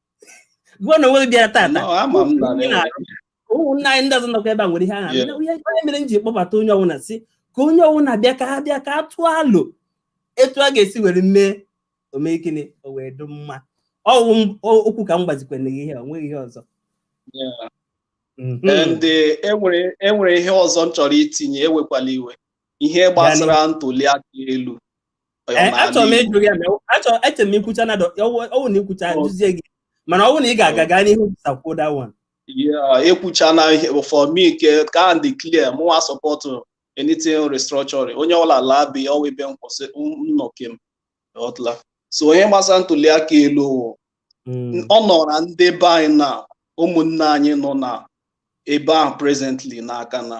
gụọ na onwe gị bịara tata No, ama m na Ndị na-arụ. ụmụnna anyị ndị ọzọ nọkwa ebe a nwere ihe ha Yeah. na-eme. Onye- onye mere m ji kpọbata onye ọbụla sị ka onye ọbụla bịa ka a bịa ka a tụọ alo etu a ga-esi were mee ọ mee gịnị o wee dị mma ọwụ m- o- okwu ka m gbazikwere gị ihe ọ nweghị ihe ọzọ Yeah. Mhm. and eh, enwere enwere ihe ọzọ m chọrọ itinye ewekwala iwe ihe gbasara ntuli aka elu Eh, achọrọ m ịjụ gị achọrọ eche m ị kwuchana ọwụ na ị kwucha ajụzie gị mana ọwụ na ị ga-aga gaa n'ihu sakwuo that one ekwuchana ihe for me nke ka adị clear mụnwa support anything restructuring onye ọla laa be ọwụ ebe m kwụsị nnọkem ịghọtala so n'ihe gbasara ntuli aka elu hmm. ọ nọra ndị be anyị na ụmụnne anyị nọ na ebe ahụ presently n'aka na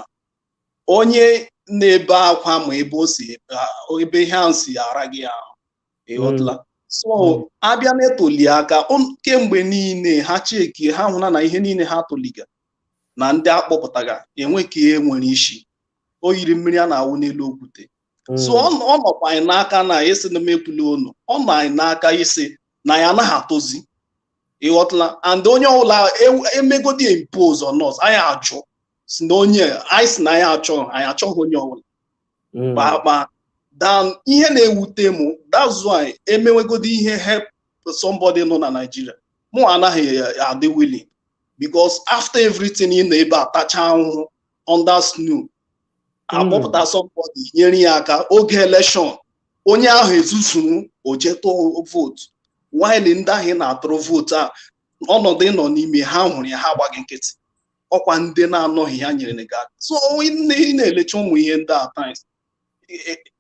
onye na-ebe akwa ma ebe o si ebe ihe ahụ si ara gị ahụ ịghọtala hmm. so hmm. a bịa na ntuli aka kemgbe niile ha checkie ha hụna na ihe niile ha tuliga na ndị a kpọpụtaga enwekwaghị ihe nwere isi o yiri mmiri a na-awụ n'elu okwute hmm. so ọ nọkwa anyị n'aka na ịsị na m ekwula unu ọ nọ anyị n'aka ịsị na anyị anaghị atụzi ịghọtala and onye ọbụla emegodi impose on us anyị ajụ sị na onye anyị sị na anyị achọghị anyị achọghị onye ọbụla hmm. kpakpa then ihe na-ewute m that's why emewegodi ihe help somebody nọ na Naịjirịa mụ anaghị adị willing because after everything ị nọ ebe a atacha ahụhụ under snow akpọpụta somebody nyere ya aka oge election onye ahụ ezuzuru jee tụọ vootu while ndị ahụ ị na-atụrụ vootu a ọnọdụ ịnọ n'ime ha hụrụ ya ha agba gị nkịtị ọkwa ndị na-anọghị ya nyere gị aka so ị na-elecha ụmụ ihe ndị a at times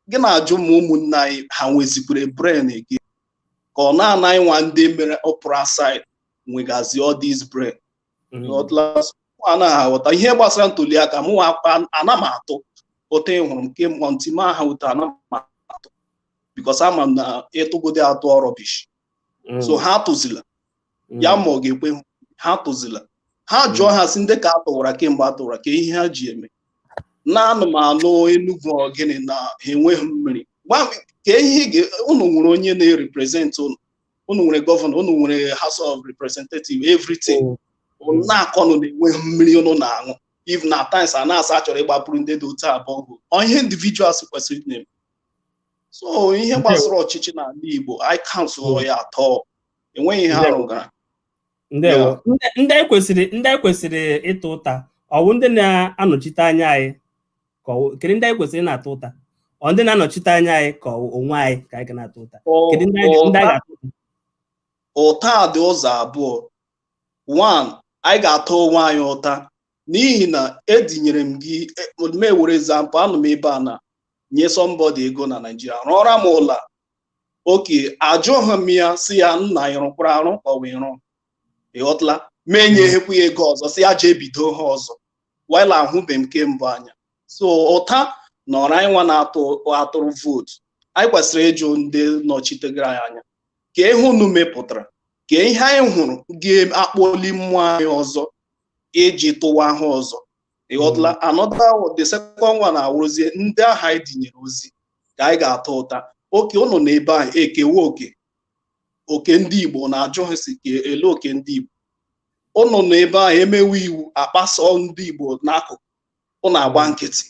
gị na-ajụ ma ụmụnne anyị ha nwezikwere brain gị ka ọ naanị anyịnwa ndị mere pụrụ outside nwegazi all these brain anaghị aghọta ihe gbasara ntuli aka mụ ana m atụ otu ị hụrụ m nke mụọ ntị m aha ụta ana m atụ because ama m na ịtụgodi atụ ọ rubbish mm. so ha atụzila mm. ya ma ọ ga-ekwe ha atụzila ha mm. jụọ ha sị ndị ka a tụwara kemgbe a tụwara kee ihe ha ji eme na anụ m anụ Enugwu ọ gịnị na ha enweghị mmiri kee ihe unu nwere onye na-erepresent unu unu nwere gọvanọ unu nwere house of representative everything unu na-akọnụ na enweghị mmiri unu na-aṅụ even at times a na-asị a chọrọ ịgbapụrụ ndị dị otu a borehole ọ ihe individuals kwesịrị na-eme so ihe gbasara ọchịchị n'ala Igbo I cancel ya atọ enweghị ihe a rụgara ndewo ndị anyị kwesịrị ndị anyị kwesịrị ịta ụta ọ wụ ndị na-anọchite anya anyị ka kedu ndị anyị kwesịrị na-ata ụta ọ ndị na-anọchite anya anyị ka onwe anyị ka anyị ga na-ata ụta kedu ndị anyị ga-ata ụta dị ụzọ abụọ one anyị ga-ata onwe anyị ụta n'ihi na edinyere m gị e, m were example anọ m ebe a na nye somebody ego na Naijiria rụọra m ụlọ okay ajụghị m ya sị ya nna ị rụkwara arụ ọ wụ ị rụ ị ghọtala m enyeghekwa ya ego ọzọ sị ya jee bido ha ọzọ while ahụbe m nke mbụ anya so ụta nọrọ anyị nwa na-atụrụ vootu anyị kwesịrị ịjụ ndị nọchitegara anyị anya kee ihe unu mepụtara kee ihe anyị hụrụ ga-akpọli mmụọ anyị ọzọ iji tụwa ha ọzọ ị ghọtala hmm. another the second one awụrụzie ndị ahụ anyị dinyere ozi ka anyị ga-ata ụta okay ụnụ nọ ebe ahụ e kewe oke oke ndị Igbo na-ajụ ha sị kelee oke ndị Igbo ụnụ nọ ebe ahụ e mewe iwu a kpaso ndị Igbo n'akụkụ ụnụ agba nkịtị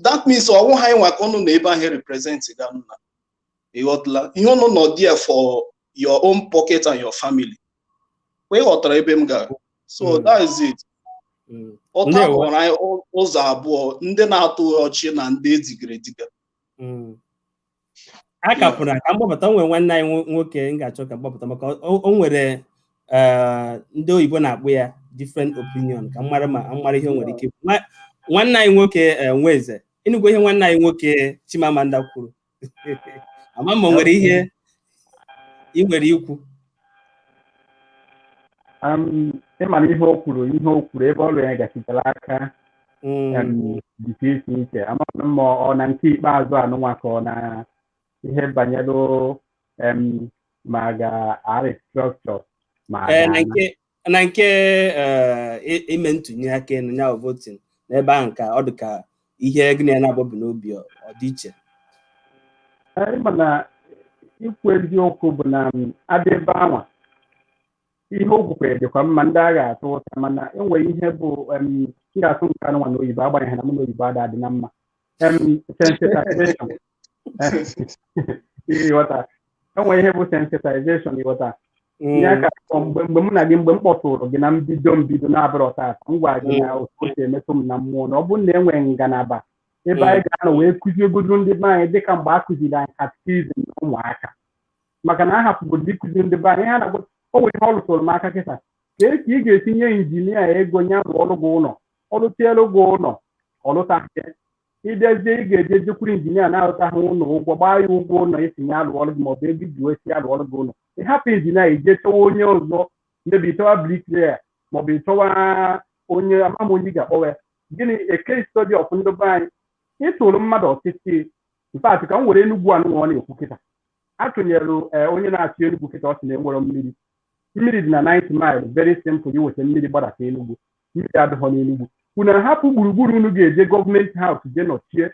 that means ọ wụghị anyị nwa ka ụnụ nọ ebe ahụ represent ga nna ị ghọtala ihe ụnụ nọ there for your own pocket and your family kwa ị ghọtara ebe m gara so Mm. that is it Mm. ụta Ndewo. kọrọ anyị ụ- ụzọ abụọ ndị na-atụ ọchị na ndị e digara ediga Mm. a ka pụrụ ka m kpọpụta o nwere nwanne anyị nwo- nwoke m ga-achọ ka m kpọpụta maka o o nwere eh, ndị oyibo na-akpọ ya different opinion ka m mara ma m mara ihe o nwere ike ikwu. Nwa- nwanne anyị nwoke eh, Nweze ị nụgo ihe nwanne anyị nwoke Chimamanda kwuru ama m ma o nwere ihe ị nwere ikwu ị mara ihe o kwuru ihe o kwuru ebe ọrụ ya gachitere aka dịka isi iche amaghị m ma ọ na nke ikpeazụ anụnwa ka ọ na ihe banyere ma a ga-arestructure ma na nke eh, ime ntụnye aka nya bụ voting n'ebe ahụ ka ọ dị ka ihe gị na ya na-abụbụ n'obi ọ dị iche ịma na ikwu eziokwu bụ na abịa ebe anwa ihe o kwukwere dịkwa mma ndị a ga-atụ ụta mana enwere ihe bụ em, m ga-atụ nke anụnwa na oyibo agbanyeghị na mụ na oyibo ada adị na mma em, sensitization ịghọta enwere ihe bụ sensitization ịghọta ya ka ọ mgbe mgbe mụ na gị mgbe m kpọtụrụ gị na mbido mbido na-abụrọ taata m gwara gị na otu o si emetụ m na mmụọ na ọ bụrụ na e nwere ngalaba ebe anyị ga-anọ wee kụziegodu ndị be anyị dịka mgbe a kụziri anyị katikizim na ụmụaka maka na a hapụgodo ịkụzi ndị be anyị ha na-agwa o nwere ihe ọ lụtụrụ m aka kịta ka e ka ị ga-esi nye injinia ego nya rụọrụ gị ụlọ ọ lụtielu gị ụlọ ọ lụtazie ịbịazie ị ga-eje jekwuru injinia na-alụta gị ụlọ ụgwọ gbaa ya ụgwọ ụlọ ị sị nya lụọrụ gị maọbụ ego iji wee sị ya lụọrụ gị ụlọ ị hapụ injinia ije chọwa onye ọzọ maybe ị chọwa bricklayer maọbụ ị chọwa onye amam onye ị ga-akpọwa ya gịnị a case study of ndị be anyị ịtụrụ mmadụ ọchịchị in fact ka m were enugwu anụ nwa ọ na-ekwu kịta atụnyere ee, onye na-achị enugwu kịta ọ sị na enwere mmiri mmiri dị na 9th mile very simple iweta mmiri gbadata enugwu mmiri adịghọ n'enugwu unu ahapụ gburugburu unu ga-eje government house je nọchie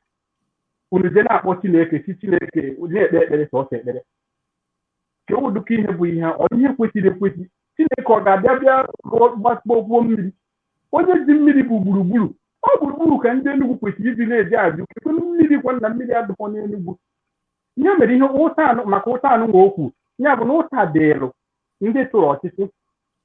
unu je na-akpọ chineke chi chineke na-ekpe ekpere sọsọ ekpere ka ọ dịka ihe bụ ihe ọ ihe kwesịrị ekwesị chineke ọ ga-abịa bịa gbakpọkwuo mmiri onye ji mmiri bụ gburugburu ọ gburugburu ka ndị enugwu kwesịrị ibi na-eje ajụ kekwa mmiri gwa na mmiri adịghọ n'enugwu ihe mere ihe ụta anụ maka ụta anụ nwa okwu ya bụ na ụta dịlụ ndị tụrụ ọchịchị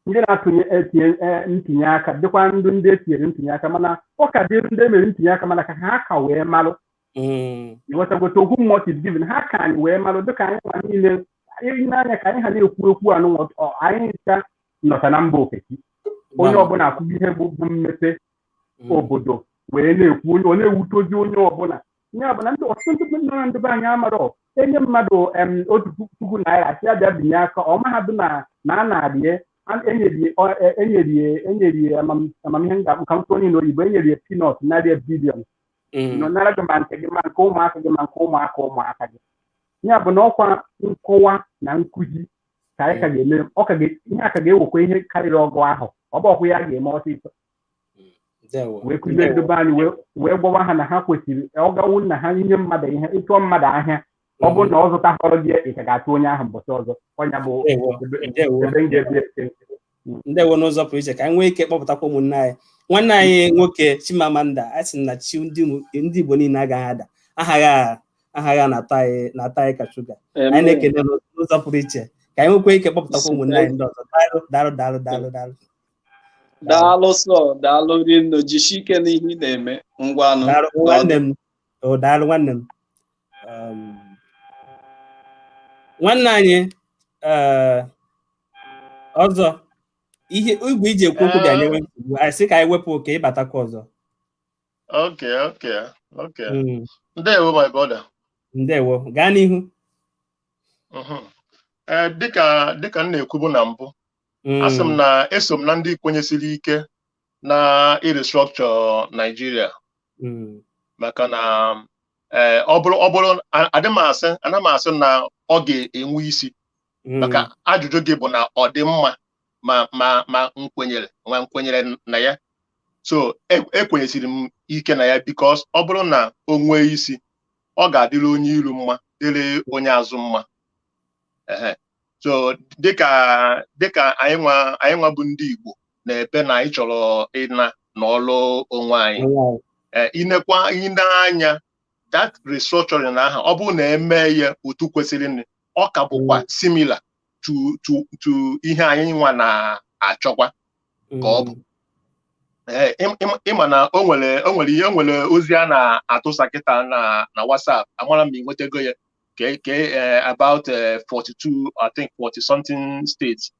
ndị na-atụnye etinye eh, ntinye aka dịkwa ndị ndị etinyere ntinye aka mana ọ ka dịrị ndị emere ntinye aka mana ka ha ka wee malụ Mm. ịghọtagote okwu mụ is given ha ka anyị wee malụ dịka anyị nwa niile anyị n'anya ka anyị ha na-ekwu okwu anụ anyị ncha nọta na mba ofesi onye Gbam. ọbụla ahụgo ihe bụ bụ mmepe Mm. obodo wee na-ekwu onye ọ na-ewutezi onye ọbụla ya bụ na ndị ọtụtụ ndị nọ na ndị be anyị amarọ enye mmadụ em, otu puku puku naira asị ya bịa binye aka ọ mahadụ na na a na-arie a- enyerie ọ- e- enyerie enyerie amam- amam ihe m ga-akpọ ka m kwuo n'ile oyibo enyerie peanut narị ya billion Mm. nọ nara gị ma nke gị ma nke ụmụaka gị ma nke ụmụaka ụmụaka gị ya bụ na ọkwa nkọwa na nkụzi ka anyị ka ga-eme ọ ka ga- ihe a ka ga-ewekwa ihe karịrị ọgụ ahọ ọ bụrọkwa ihe ga-eme ọsịsọ wee kụzie ndị be anyị wee gwawa ha na ha kwesịrị ọ gawu na ha inye mmadụ ihe ịchụọ mmadụ ahịa ọ bụrụ na ọ zụtahọrọ gị ị ka ga-achụ onye ahụ mbọchị ọzọ ọ nya bụ ebe m ga-ebi ndewo n'ụzọ pụrụ iche ka anyị nwee ike kpọpụtakwa ụmụnne anyị nwanne anyị nwoke Chimamanda a sị na chi ndị Igbo niile agaghị ada aha gị na-atọ anyị ka shuga anyị na-ekele n'ụzọ pụrụ iche ka anyị nwekwa ike kpọpụtakwa ụmụnne anyị ndị ọzọ daalụ daalụ daalụ daalụ daalụ sọ daalụ rinne jisi ike n'ihe ị na-eme ngwanụ Daalụ nwanne m o daalụ nwanne m Um, nwanne anyị eh, ọzọ ihe igwe i ji ekwu okwu bịa nyewe nsogbu anyị sị ka anyị wepụ oke ị batakwa ọzọ Okay, okay, okay. Mm, Ndewo, my brother. ndewo gaa n'ihu Mhm. Eh, dịka dịka m na-ekwubu na mbụ asị m na eso m na ndị kwenyesiri ike na irestructure Nigeria maka na ee ọ bụrụ ọ bụrụ adị m asị ana m asị na ọ ga-enwe isi maka ajụjụ gị bụ na ọ dị mma ma ma ma m kwenyere ma m kwenyere na ya so ekwenyesiri m ike na ya because ọ bụrụ na o nwee isi ọ ga-adịrị onye iru mma dịrị onye azụ mma ee so dịka dịka anyị nwa anyị nwa bụ ndị Igbo na-ebe na anyị chọrọ ịna nọlụ onwe anyị eh, i nekwa i nee anya that restructuring ahụ ọ bụrụ na e mee ya otu kwesịrị ọ ka bụkwa mm. similar to to to ihe anyị nwa na-achọkwa ka ọ bụ mm. Eh, ị ma na o nwere o nwere ihe nwere ozi a na-atụsa kịta na na WhatsApp amara m ma ị nwetago ya okay, okay uh, about uh, 42, I think 40 something states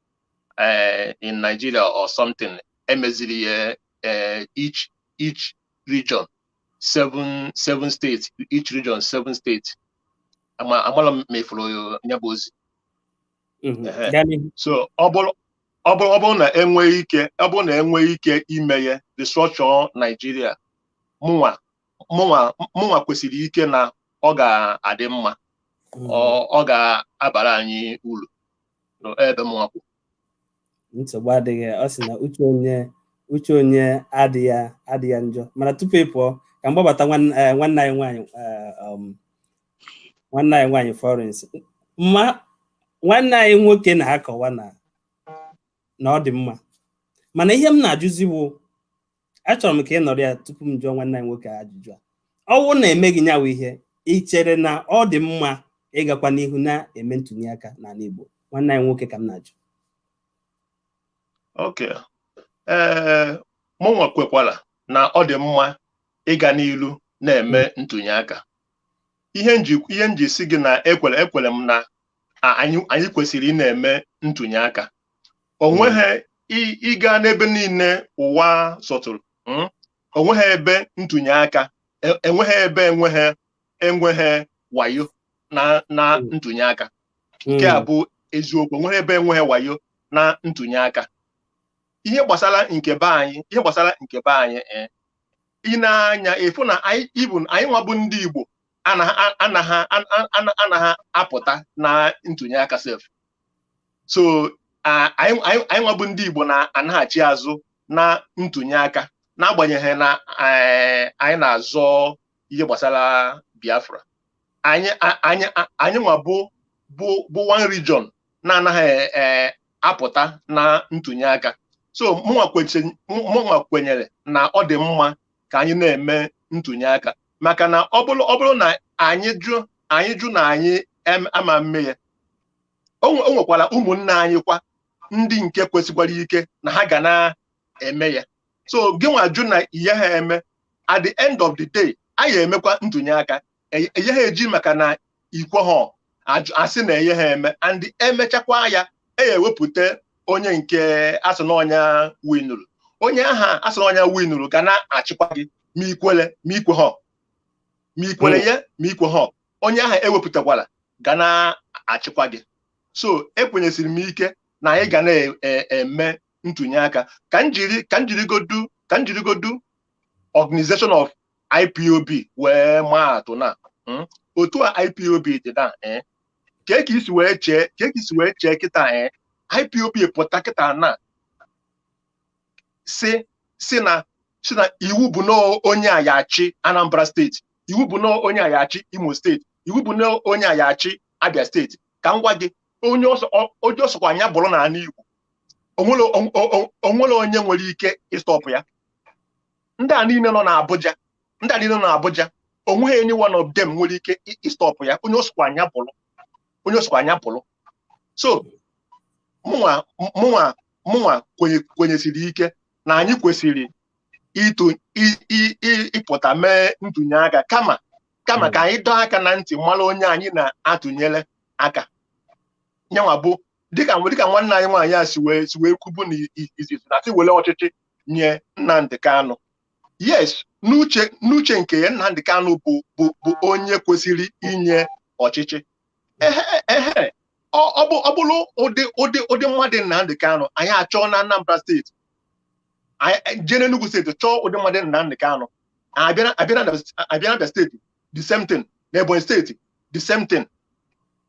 uh, in Nigeria or something, e meziri uh, each each region, seven seven states, each region seven states. amara m ma ị fụrụ nya bụ ozi. So ọ bụrụ ọ bụrụ ọ bụrụ na e nwee ike ọ bụrụ na e nwee ike ime ya restructure Nigeria mụnwa mụnwa kwesiri ike na ọ ga-adị mma hmm. ọ ga-abara anyị uru ebe mụnwa kwụ nsogbu adịghị ọ sị na uche onye uche onye adịghị adịghị ya njọ mana tupu ị pụọ ka m gbabata nwanne eh, anyị nwaanyị eh, um, nwanne anyị nwaanyị Florence ma nwanne anyị nwoke na-akọwa na na ọ dị mma mana ihe m na-ajụzi bụ achọrọ m ka ị nọrọ ya tupu m jụọ nwanne anyị nwoke ajụjụ a ọ wụrụ na emeghị nyanwa ihe ị chere na ọ dị mma ịgakwa n'ihu na-eme ntụnye aka n'ala Igbo nwanne anyị nwoke ka m na-ajụ okay mụnwa kwekwara na ọ dị mma ịga n'ilu na-eme hmm. ntụnye aka ihe m ji sị gị na ekwere ekwere m na anyị kwesịrị ị na-eme ntụnye aka o hmm. nweghị ị gaa n'ebe niile ụwa sọtụrụ hmm? o nweghị ebe ntụnye aka e, enweghị ebe enweghị enweghị wayo na na hmm. ntụnye aka nke a bụ eziokwu enweghị ebe enweghị wayo na ntụnye aka ihe gbasara nke be anyị ihe gbasara nke be anyị eh, ị nee anya ị fụ na anyị ịbụ anyị nwa bụ ndị Igbo anaghị apụta na ntụnye aka sef so anyị nwa bụ ndị Igbo na-anaghachi azụ na ntụnye aka n'agbanyeghị na eh, anyị na-azọ ihe gbasara Biafra anyị nwa bụ bụ one region na-anaghị eh, apụta na ntụnye aka so mụnwa kwenyere na ọ dị mma ka anyị na-eme ntụnye aka maka na ọ bụrụ ọ bụrụ na anyị jụ anyị jụ na anyị em- ama mme ya o nwe- o nwekwara ụmụnne anyị kwa ndị nke kwesikwara ike na ha ga na-eme ya so gị nwa jụ na i yeha eme at the end of the day a ya emekwa ntụnye aka e- e yeha eji maka na i kweha ajụ- asị na e yeha eme and e mechakwaa ya e ya ewepụta onye nke a sị na ọ nya winụrụ onye aha a sị na ọ nya winụrụ ga na-achịkwa gị ma i kwele ma i kweha ma i kwele ya ma i kweha onye aha ewepụtakwala ga na-achịkwa gị so ekwenyesiri m ike na anyị ga na-eme ntụnye aka ka m jiri ka m jirigodu ka m jirigodu organization of IPOB wee maa atụ na hmm, otu a IPOB dị na eh, ka e ka isi wee chee ka e ka isi wee chee kịta eh, IPOB pụta kịta na si si na si na iwu bụ na onye a ya achị Anambra steeti iwu bụ na onye a ya achị Imo steeti iwu bụ na onye a ya achị Abia steeti ka m gwa gị onye ọsọ- ọ- onye ọ sọkwa nya bụrụ n'ala Igbo o nwere o nwere onye nwere ike ịstọpụ ya ndị a niile nọ n'Abuja ndị a niile nọ n'Abuja o nweghị any one of them nwere ike ịstọpụ ya onye ọ sọkwa nya bụrụ onye ọ sọkwa nya bụrụ so mụnwa mụnwa mụnwa kwenyesiri ike na anyị kwesịrị ịpụta mee ntụnye aka kama kama ka anyị dọọ aka na ntị mara onye anyị na-atụnyere aka nyanwa bụ dịka dịka nwanne anyị nwaanyị a si wee si wee kwubu na izizi na si were ọchịchị nye Nnamdi Kanu yes n'uche n'uche nke ya Nnamdi Kanu bụ bụ bụ onye kwesịrị inye ọchịchị ehe ehe ọ ọ bụ ọ bụrụ ụdị ụdị ụdị mmadụ Nnamdi Kanu anyị achọọ na Anambra steeti anyị jee n'Enugu steeti chọọ ụdị mmadụ Nnamdi Kanu abịa na- abịa na abịa na Abia steeti the same thing na Ebonyi steeti the same thing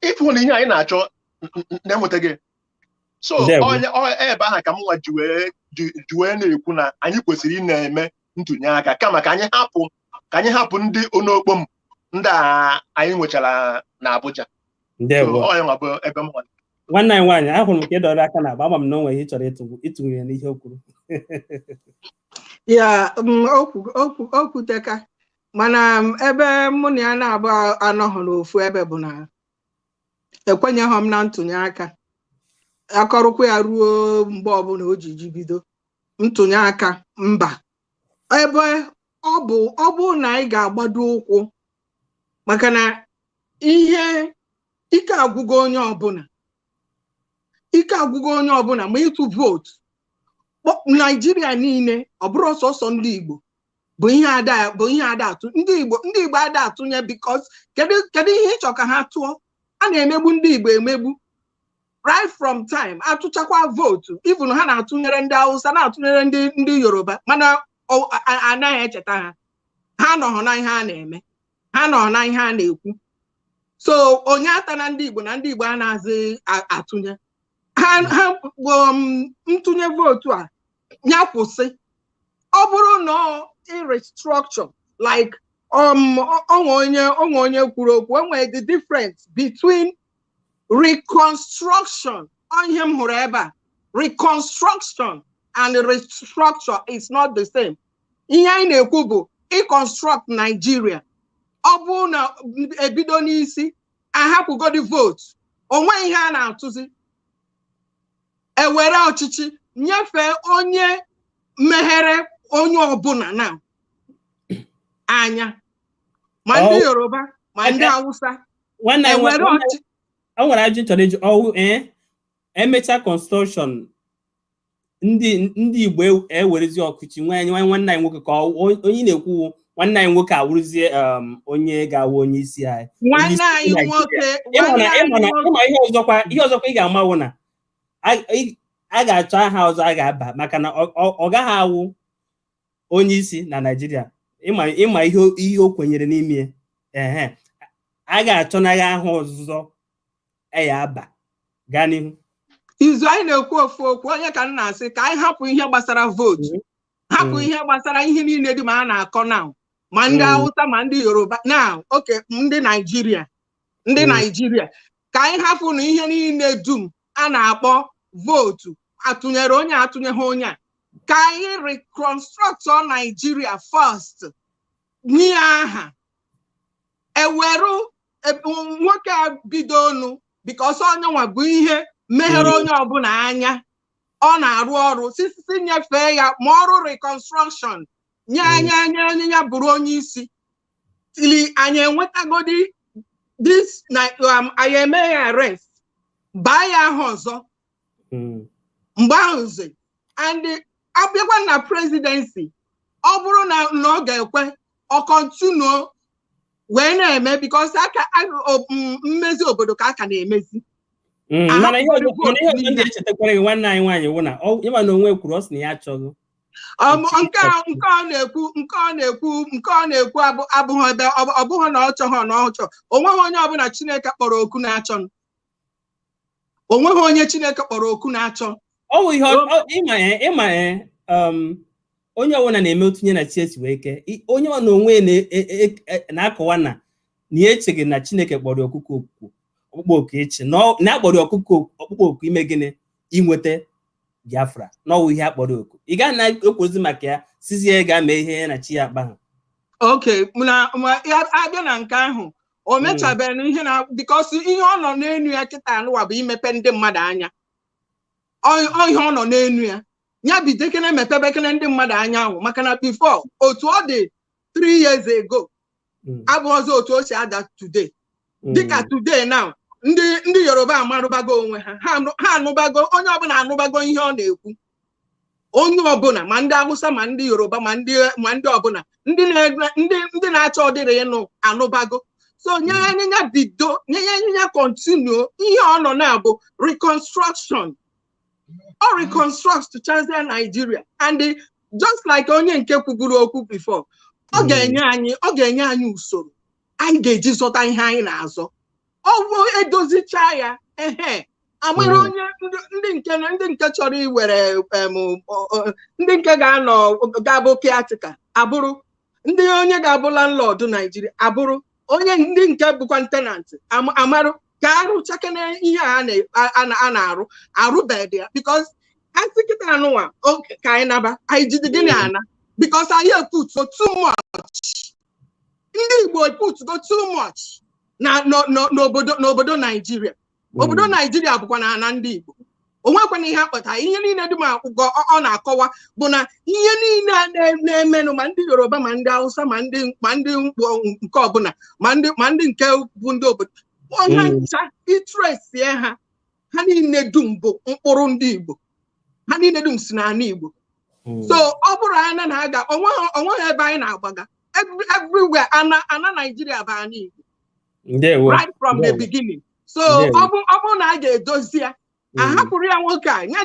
ị fụ na ihe anyị na-achọ n- n- na-enwetaghị so ebe ahụ ka m nwa ji wee ji- ji wee na-ekwu na anyị kwesịrị ị na-eme ntụnye aka kama ka anyị hapụ ka anyị hapụ ndị onokpom ndị a anyị nwechara na Abuja so ndewo onye nwa bụ ebe m nwa nwanne anyị nwaanyị ahụrụ m ka ị dọrọ aka n'agba ama m na o nwere ihe ị chọrọ ịtụ- ịtụnye ya n'ihe o kwuru yeah mm, okwu- okwu- o kwuteka mana m, ebe mụ na ya naabọ anọghị n'ofu ebe bụ na ekwenyeghị m na ntụnye aka a kọrọkwa ya ruo mgbe ọbụla o ji ji bido ntụnye aka mba ebe ọ bụ ọ bụrụ na anyị ga-agbado ụkwụ maka na ihe ike agwụgo onye ọbụla ike agwụgo onye ọbụla ma ịtụ vootu kpọ- naijiria niile ọ bụrọ sọsọ ndị igbo bụ ihe ada bụ ihe ada atụ ndị igbo ndị igbo ada atụnye because kedu kedu ihe ị chọ ka ha tụọ a na-emegbu ndị igbo emegbu right from time atụchakwa vootu even ha na-atụnyere ndị hausa na-atụnyere ndị ndị yoruba mana ọ- a- a- anaghị echeta ha ha nọhụ na ihe a na-eme ha nọhụ na ihe a na-ekwu so onye atana ndị igbo na ndị igbo anazị a- atụnye ha ha um, ntụnye vootu a ya kwụsị ọ bụrụ na restructure like um o nwe onye o nwe onye kwuru okwu e nwere the difference between reconstruction ihe m hụrụ ebe a reconstruction and restructure is not the same ihe anyị na-ekwu bụ reconstruct Nigeria ọ bụrụ na e bido n'isi a hapụgodi votu o nweghị ihe a na-atụzi e were ọchịchị nyefee onye meghere onye ọbụla na anya ma ndị Ọ- yoruba ma ndị Aka- hausa nwanne anyị ewere nwa- ọchị o nwere ajụjụ m chọrọ ịjụ ọ wụ ee e mecha construction ndị ndị igbo ew- ewerezi ọchịchị nwa anyị nwa- nwanne anyị nwoke ka ọ- onye na-ekwu nwanne anyị nwoke awụrụzie um, onye ga-awụ onye isi anyị nwanne anyị nwoke ịma ihe ọzọkwa ihe ọzọkwa ị ga-ama wụ na a ga-achọ aha ọzọ a ga-aba maka na ọ gaghị awụ onye isi na Naịjirịa ịma ihe o kwenyere n'ime ehe a ga-achọ na ya aha ọzọ a ya-aba gaa n'ihu izu anyị na-ekwu ofu okwu ọ nya ka m na-asị ka anyị hapụ ihe gbasara vootu mhm. hapụ ihe gbasara ihe niile dum a na-akọ now ma ndị Awụsa ma ndị Yoruba na okay ndị Naijiria ndị Naijiria ka anyị hapụnụ ihe niile dum a na-akpọ vootu atụnyere onye atụnyeghị onye a ka anyị reconstruct Naijiria first nye aha eweru nwoke a bido ọnụ because ọ nyanwa bụ ihe meghere onye ọbụla anya ọ na-arụ ọrụ since nyefee ya ma ọrụ reconstruction nye mm. nya nya nya bụrụ onye isi till anyị enwetagodi this na um, anyị eme ya arrest baa ya aha ọzọ mm. mgbe ahụzi and abịakwa na presidency ọ bụrụ na na ọ ga-ekwe ọ continue wee na-eme because aka a- o- m- mmezi obodo ka a ka na-emezi Mm, Aha, mana ihe ọzọ ụfọdụ mana ihe ọzọ niile. ndị echetakwara gị nwanne anyị nwaanyị wụ na ọ- ịma na onwe kwuru ọ sị na ya achọghị Um, Otu nke a- nke ọ na-ekwu nke ọ na-ekwu nke ọ na-ekwu abụ- abụghị ebe ọ bụ- ọ bụghị na ọ chọghị na ọ chọọ o nweghị onye ọbụla Chineke kpọrọ oku na-achọ o nweghị onye chineke kpọrọ oku na-achọ ọ bụ ihe ọ- ọ- ịma eh, ịma eh, um, onye ọbụla na-eme otu nya na chi ya si wee kee I- onye ọ na onwe ya na- e- e- e- na-akọwa na na ya echeghị na chineke kpọrọ ya ọkụkọ oku ọkpụkpọ oku ịchị na ọ- na a kpọrọ ya ọkụkọ oku- ọkpụkpọ oku ime gịnị inweta biafra na ọ wụ ihe a kpọrọ oku ị ga na-ekwuzi maka ya sịzie ya ga mee ihe ya na chi ya akpaghị okay na ma ya abịa na nke ahụ o hmm. mechabeghị ihe na because ihe ọ nọ n'enu ya kịta nwa bụ imepe ndị mmadụ anya ihe ọ nọ n'enu ya ya bidokene mepebekene ndị mmadụ anya ahụ maka na before otu ọ dị 3 years ago hmm. abụrọzi otu o si adị today hmm. dịka today now ndị ndị yoruba amarụbago onwe ha ha anụbago onye ọbụla anụbago ihe ọ na-ekwu onye ọbụla ma ndị awụsa ma ndị yoruba ma ndị ma ndị ọbụla ndị na- ndị ndị na-achọ ọ dịrị ịnụ anụbago so nya nya bido nya nya continue ihe ọ nọ na ya bụ reconstruction ọ reconstruct chazie Nigeria and the- just like onye nke kwuburu okwu before ọ Mm. ga-enye anyị ọ ga-enye anyị usoro anyị ga-eji zọta ihe anyị na-azọ ọ bụ edozichaa ya ehe amara onye ndị nke ndị nke chọrọ iwere ndị nke ga-anọ ga-abụ caretaker abụrụ ndị onye ga-abụ landlord Naijiria abụrụ onye ndị nke bụkwa tenant amarụ ka arụchakene ihe a na-arụ arụbedị ya because asị kịta anụnwa ka anyị naba anyị jide gịnị ana because anyị eputugo too much ndị Igbo eputugo too much na n'obodo n'obodo Naijiria hmm. obodo Naijiria bụkwa na ana ndị Igbo onwekwana ihe akpata ihe niile dị n'akwụkwọ ọ na-akọwa bụ na ihe niile a na-emenụ ma ndị Yoruba ma ndị Hausa ma ndị ma ndị nke ọbụla ma ndị ma ndị nke bụ ndị obodo ọha hmm. ncha ị tracie ha ha niile dum bụ mkpụrụ ndị Igbo ha niile dum si n'ana Igbo hmm. so ọ bụrụ anyị na-aga onweghị ebe anyị na-agbaga everywhere ana ana Naijiria bụ ana Igbo right from the beginning so ọ bụrụ na a ga-edozi ya hmm. ahapụrụ ya nwoke a ya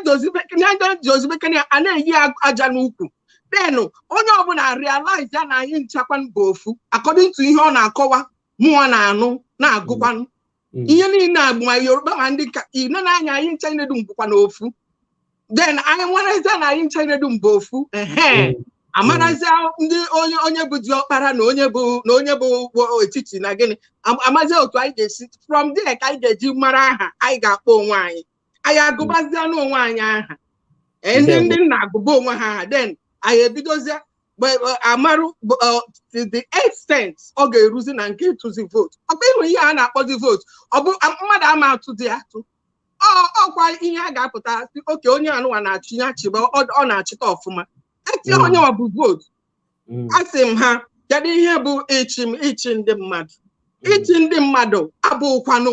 dozibekene ya a na-eyi aja n'ukwu then onye ọbụla realize ya na anyị nchakwa bụ ofu according to ihe ọ na-akọwa mụwa na-anụ na-agụkwanụ Mm. ihe niile a bụ ma Yoruba ma ndị ka ine na-anya anyị ncha niile dum bụkwanụ ofu then anyị amarazie na anyị ncha niile dum bụ ofu ehe Mm. amarazie ndị onye onye bụ diọkpara na onye bụ na onye bụ wo- etiti na gịnị Am- amazie otu anyị ga-esi from there ka anyị ga-eji mara aha anyị ga-akpọ onwe anyị anyị agụbazie n'onwe anyị aha Ee, ndị Ndewo. ndị nna agụba onwe ha aha then anyị ebidozie gbe- ọ, amarụ bụ, ọ, to the extent ọ ga-eruzi na nke ịtụzi vootu ọkwa ịhụ ihe a na-akpọzi vootu ọ bụ a- mmadụ ama atụzi atụ ọ ọkwa ihe a ga-apụta sị okay onye anụwa na-achị ya chịba ọ ọ na-achịta ọfụma etinye Mm. onye ọ bụ vootu mm. asị m ha kedu ihe bụ ịchị m ịchị ndị mmadụ mm. ịchị ndị mmadụ abụkwanụ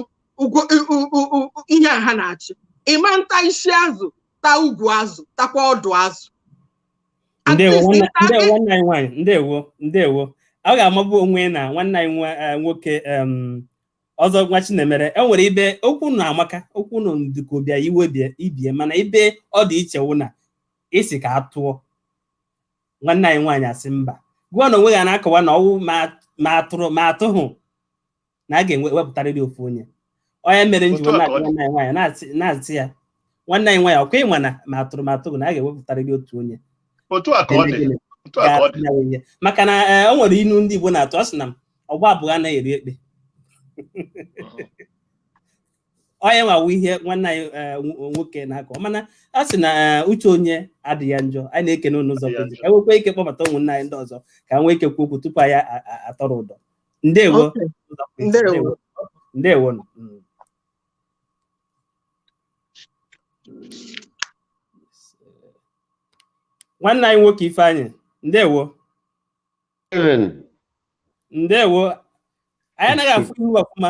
ihe a ha na-achị ịma nta isi azụ ta ugwu azụ takwa ọdụ azụ ndewo ndewo ọ ga-amabu onwe na nwanne anyị eh, nwoke ọzọ nwa Chinemere e nwere ibe okwu na amaka okwu nọ ndịka bịa iwe ibie mana ibe ọ dị iche wụ na isi ka a tụọ nwanne anyị nwaanyị asị mba gụọ na onwe ya na-akọwa na ọwụ ma atụrụ ma atụhụ na a ga-ewepụtarịrị ofu onye ọ ya mere m ji wee na-akọ nwanne anyị nwaanyị na-asị ya nwanne anyị nwaanyị ọkwa ịma na ma atụrụ ma atụhụ na a ga-ewepụtarịrị otu onye maka na e, o nwere inu ndị Igbo na-atụ ọ sị na ọgba abụọ anaghị eri ekpe ọ ya nwa wụ ihe nwanne anyị eh, nw- nwoke na-akọ mana a sị na eh, uche onye adịghị ya njọ anyị na-ekene unu n'ụzọ Adịghị ya pụrụ iche. ka anyị nwekwaa ike kpọbata ụmụnne anyị ndị ọzọ ka ha nwee ike kwuo okwu tupu anyị a- a- a- atọrọ ụdọ ndewo Okay. n'ụzọ pụrụ iche. Ndewo. ndewo nụ. Mm. nwanne anyị nwoke Ifeanyị ndewo Steven, ndewo anyị anaghị afụ ihu ọfụma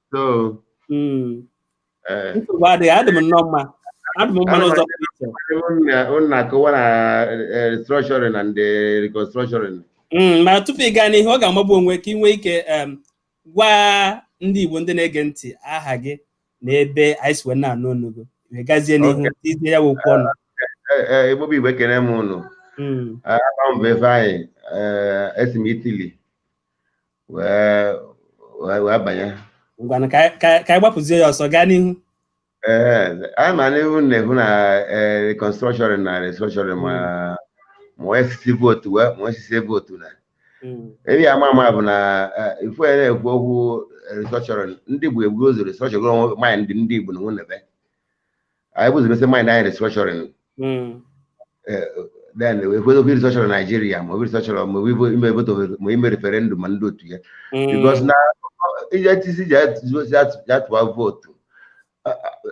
So, Mm. eh, nsogbu adịghị adị m nnọọ mma adị m mma n'ụzọ pụrụ iche unu na-akọwa na eh, restructuring and eh, reconstruction Mm, ma tupu ị gaa n'ihu ọ ga-amagbu onwe ka ị nwee ike em, gwa ndị Igbo ndị na-ege ntị aha gị na ebe anyị si wee na-anụ ọnụ gị wee gazie n'ihu tizie ya bụ okwu ọnụ Eh, eh, Igbo bụ Igbo ekene m unu Mm, aha m bụ Ifeanyị eh, esi m Italy wee wee wee banye ngwanụ ka anyị- ka anyị- ka anyị gbapụzie ya ọsọ gaa n'ihu ee anyị ma n'ihe unu na-ekwu na ee, reconstruction na restructuring ma ma onye sisi vootu wee ma onye sisi vootu na Mm, ebe ya ama ama bụ na eh, if a na-ekwu okwu restructuring ndị Igbo e buru ụzọ restructuring onwe mind ndị Igbo na onwe na be anyị buzie mesie mind anyị restructuring then e kwuzie ofe restructuring Nigeria ma ọ bụ restructuring ma ọ bụ ime vootu ma ime referendum ma ndị otu a because na ije tisi ji atụwa vootu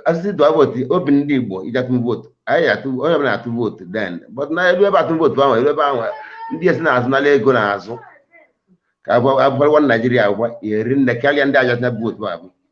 a sị sị tụwa vootu ọ bụ ndị Igbo iji atụ vootu anyị atụ onye ọbụla atụ vootu then but na elu ebe atụ vootu ahụ elu ebe ahụ ndị esi n'azụ anara ego n'azụ ka abụkwarịwa Naijiria agwa eri nne karịa ndị aja bụ otu abụ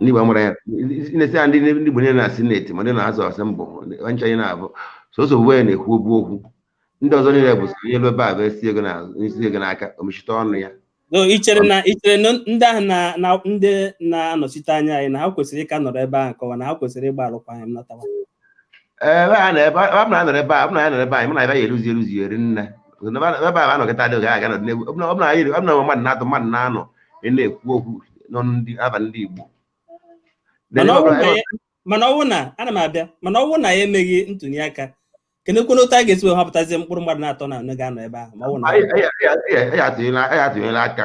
ndị Igbo mara ya na-esi ya ndị ndị Igbo niile na Senate ma ndị na House of Assembly ncha anyị na-abụ sọsọ bụ ya na-ekwu obu okwu ndị ọzọ niile bụ onye ebe ebe a bụ esi ego na- esi ego n'aka o mechite ọnụ ya No, i chere na i chere na ndị ahụ na na ndị na-anọchite anya anyị na ha kwesịrị ịka nọrọ ebe ahụ kọwa na ha kwesịrị ịgba alụkwaghị m natawa ebe a na ebe a na anọrọ ebe a na anọrọ ebe anyị mana ebe anyị eruzi eruzi eri nne ebe a nọ kịta dị oge a ga-anọdụ n'egwu ọ bụla anyị ọ bụla mmadụ na-atọ mmadụ na-anọ na-ekwu okwu nọ ndị aba ndị Igbo mana ọ wụ na ana m abịa mana ọ wụ na e meghị ntụli aka kedụkwanụ otu a ga-esi wee họpụtazie mkpụrụ mmadụ na-atọ na anọ ga-anọ ebe ahụ ma ọ bụ na ya atụnyela aka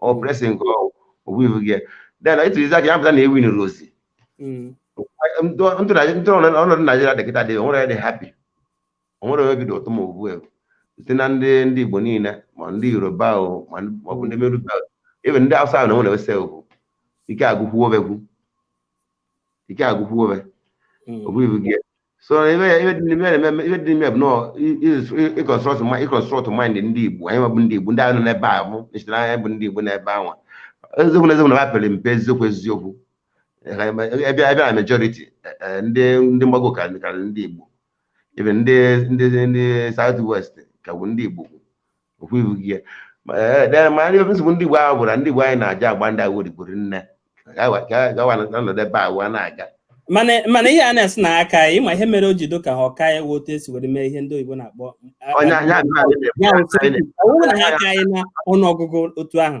ọ mm. pressing ka o bu ibu gị then ị tụzie aka ya pụta na ewi nụrụ ozi ọnọdụ naijiria dị kịta dị onwere dị happy onwere onye obi dị ụtọ ma ugbu a site na ndị ndị igbo niile ma ndị yoruba ma ọ bụ ndị meruba ebe ndị awụsa ahụ na nwere ese ugwu ike agwụkwuo obegwu ike agwụkwuo obe mm. o bu ibu gị so ihe ihe dị n'ime ihe na-eme- ihe dị n'ime bụ nọọ ịconstruct ịconstruct mind ndị igbo anyị nwa bụ ndị igbo ndị ahụ nọ n'ebe ahụ ncheta na anyị bụ ndị igbo n'ebe anwa eziokwu na eziokwu na ha pere mpe eziokwu eziokwu ebe ebe na majority eh, ndị ndị mgbago ka ka ndị igbo even ndị ndị ndị south west ka bụ ndị igbo okwebughị ya ee ma ndị nsogbu ndị Igbo ahụ bụ na ndị Igbo anyị na-aja agba ndị agha odigboro nne gawa nọdụ ebe agwa na-aga mana ihe a na-asị na ha ka ya ịma ihe mere o ji dị ka ha ọka ya wee otu esi were mee ihe ndị oyibo na-akpọ ọ wụrụ na ha ka anyị na ọnụọgụgụ otu ahụ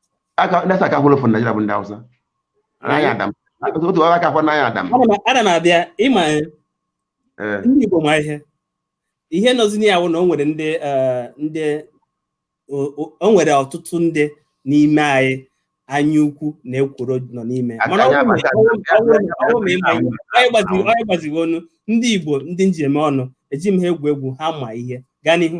na-asa aka hụrụ fon Naịjirịa bụ ndị Hausa anaghị adam otu ọrụ aka fọn anaghị adam ana m abịa ịma ndị Igbo ma ihe ihe nọzi na ya bụ na o nwere ndị ndị o nwere ọtụtụ ndị n'ime anyị anya ukwu na ekworo nọ n'ime mana onye gbazighị ọnụ ndị Igbo ndị m ji eme ọnụ eji m ha egwu egwu ha ma ihe gaa n'ihu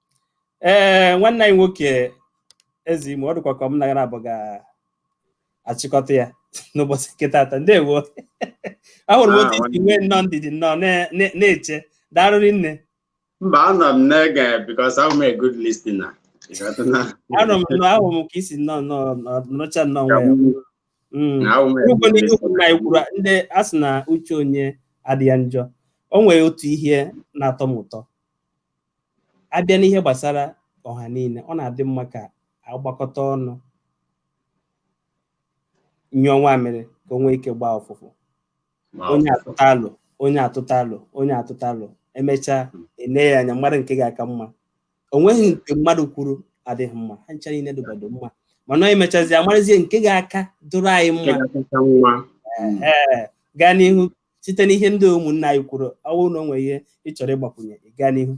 ee nwanne anyị nwoke eze imo ọ dịkwa ka m na gị naabọ ga-achịkọta ya n'ụbọchị nke taata ndewo ahụrụ m otu i si nwee nnọọ ndidi nnọọ na- na- na-eche daalụ rinne mba anọ m na-ege because I'm a good listener You got to know. anọ m nọ ahụ m ka i si nnọọ nnọọ nọ- nọcha nnọọ Ka nwayọ m- Mm. na I'm a Ugbo good n'ihe ukwu na listener. ikwuru ndị a sị na uche onye adịghị njọ o nwere otu ihe na-atọ m ụtọ a bịa n'ihe gbasara ọha niile ọ na-adị mma ka a gbakọta ọnụ nyụọ nwamịrị ka o nwee ike gbaa ụfụfụ onye atụta alo onye atụta alo onye atụta alo emechaa ele ya anya mara nke ga-aka mma o nweghị nke mmadụ kwuru adịghị mma ha ncha niile dụgbado mma mana ọ emechazi amarazie nke ga-aka dụrụ anyị mma gaa n'ihu site n'ihe ndị ụmụnna anyị kwuru ọ bụrụ na o nwere ihe ị chọrọ ịgbakwunye ị gaa n'ihu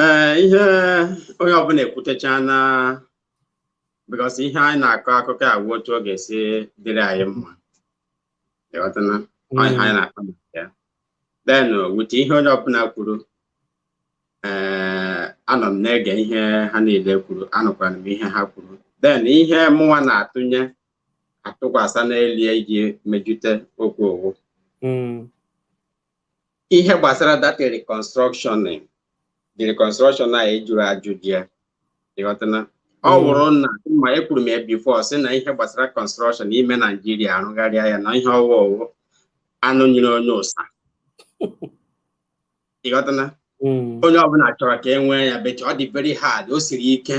ee ihe onye ọbụla ekwutecha na because ihe anyị na-akọ akụkọ a wụ otu ọ ga-esi dịrị anyị mma ịghọtana Ọ ihe anyị na-akọ maka ya then with ihe onye ọbụla kwuru ee anọ m na-ege ihe ha niile kwuru anụkwara m ihe ha kwuru then ihe mụnwa na-atụnye atụkwasị n'elie iji mejute okwu ọ wụ hmm. ihe gbasara that reconstruction the reconstruction a a jụrụ ajụjụ ya ịghọtana ọ hmm. wụrụ na ma ekwuru m ya before sị na ihe gbasara construction ime naijiria arụgharịa ya na ihe ọ wụ ọ wụ anụ nyere onye ụsa ịghọtana hmm. onye ọbụla chọrọ ka e nwee ya but ọ dị very hard o siri ike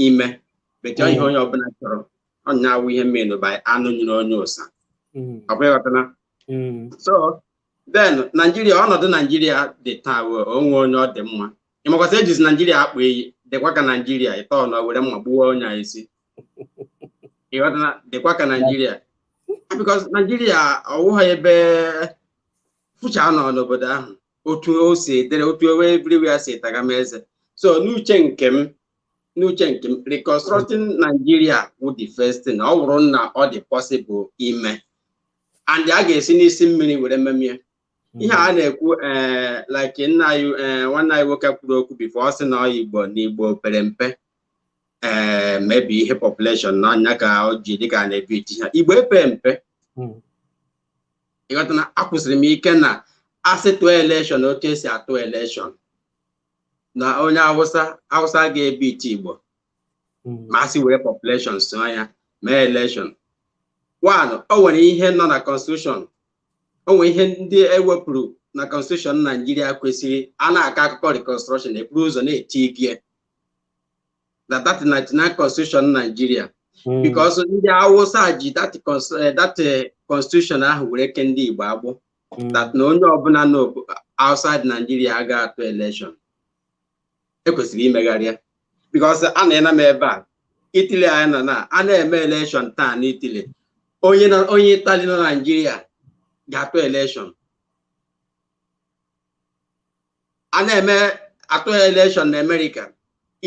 ime but ihe onye ọbụla chọrọ ọ nya awụ ihe mmenụ by anụ nyere onye awụsa ọkwa ịghọtana so then naijiria ọnọdụ naijiria dị taa onwe onye ọ dị mma ị makwa sị ejizi naijiria akpọ iyi dịkwa ka naijiria ịtọ na were mma gbuo onye a isi ịghọtana dịkwa ka naijiria because naijiria ọwụghị ebe fụchaa nọ n'obodo ahụ otu o si edere otu ewe everywhere si tagama eze so n'uche nke m n'uche nke m reconstructing Nigeria wụ the first thing ọ bụrụ na ọ dị possible ime and a ga-esi n'isi mmiri were memie ihe a na-ekwu ee like nna anyị ee nwanne anyị nwoke kwuru okwu before ọ sị na ọ igbo na igbo pere mpe ee maybe ihe population na nya ka o ji dịka a na-ebiiti ha igbo epe mpe ịghọtana akwụsịrị m ike na asị tụọ elekshọn otu esi atụ elekshọn na onye awụsa awụsa ga-ebiiti igbo ma asị were population so ya mee elekshọn one o nwere ihe nọ na constitution o nwere ihe ndị ewepụrụ na constitution naijiria kwesịrị a na-akọ akụkọ reconstruction eburu ụzọ na-etigie that that 99 constitution Nigeria hmm. because ndị Hausa ji that eh, that eh, constitution ahụ were kee ndị Igbo agbụ hmm. that na onye ọbụla nọ outside Nigeria aga atụ election ekwesịrị imegharị ya because a na-ena m ebe a Italy anyị nọ na a na-eme election taa na Italy onye onye Italy nọ Nigeria ga-atụ election a na-eme atụ elekshọn na amerịka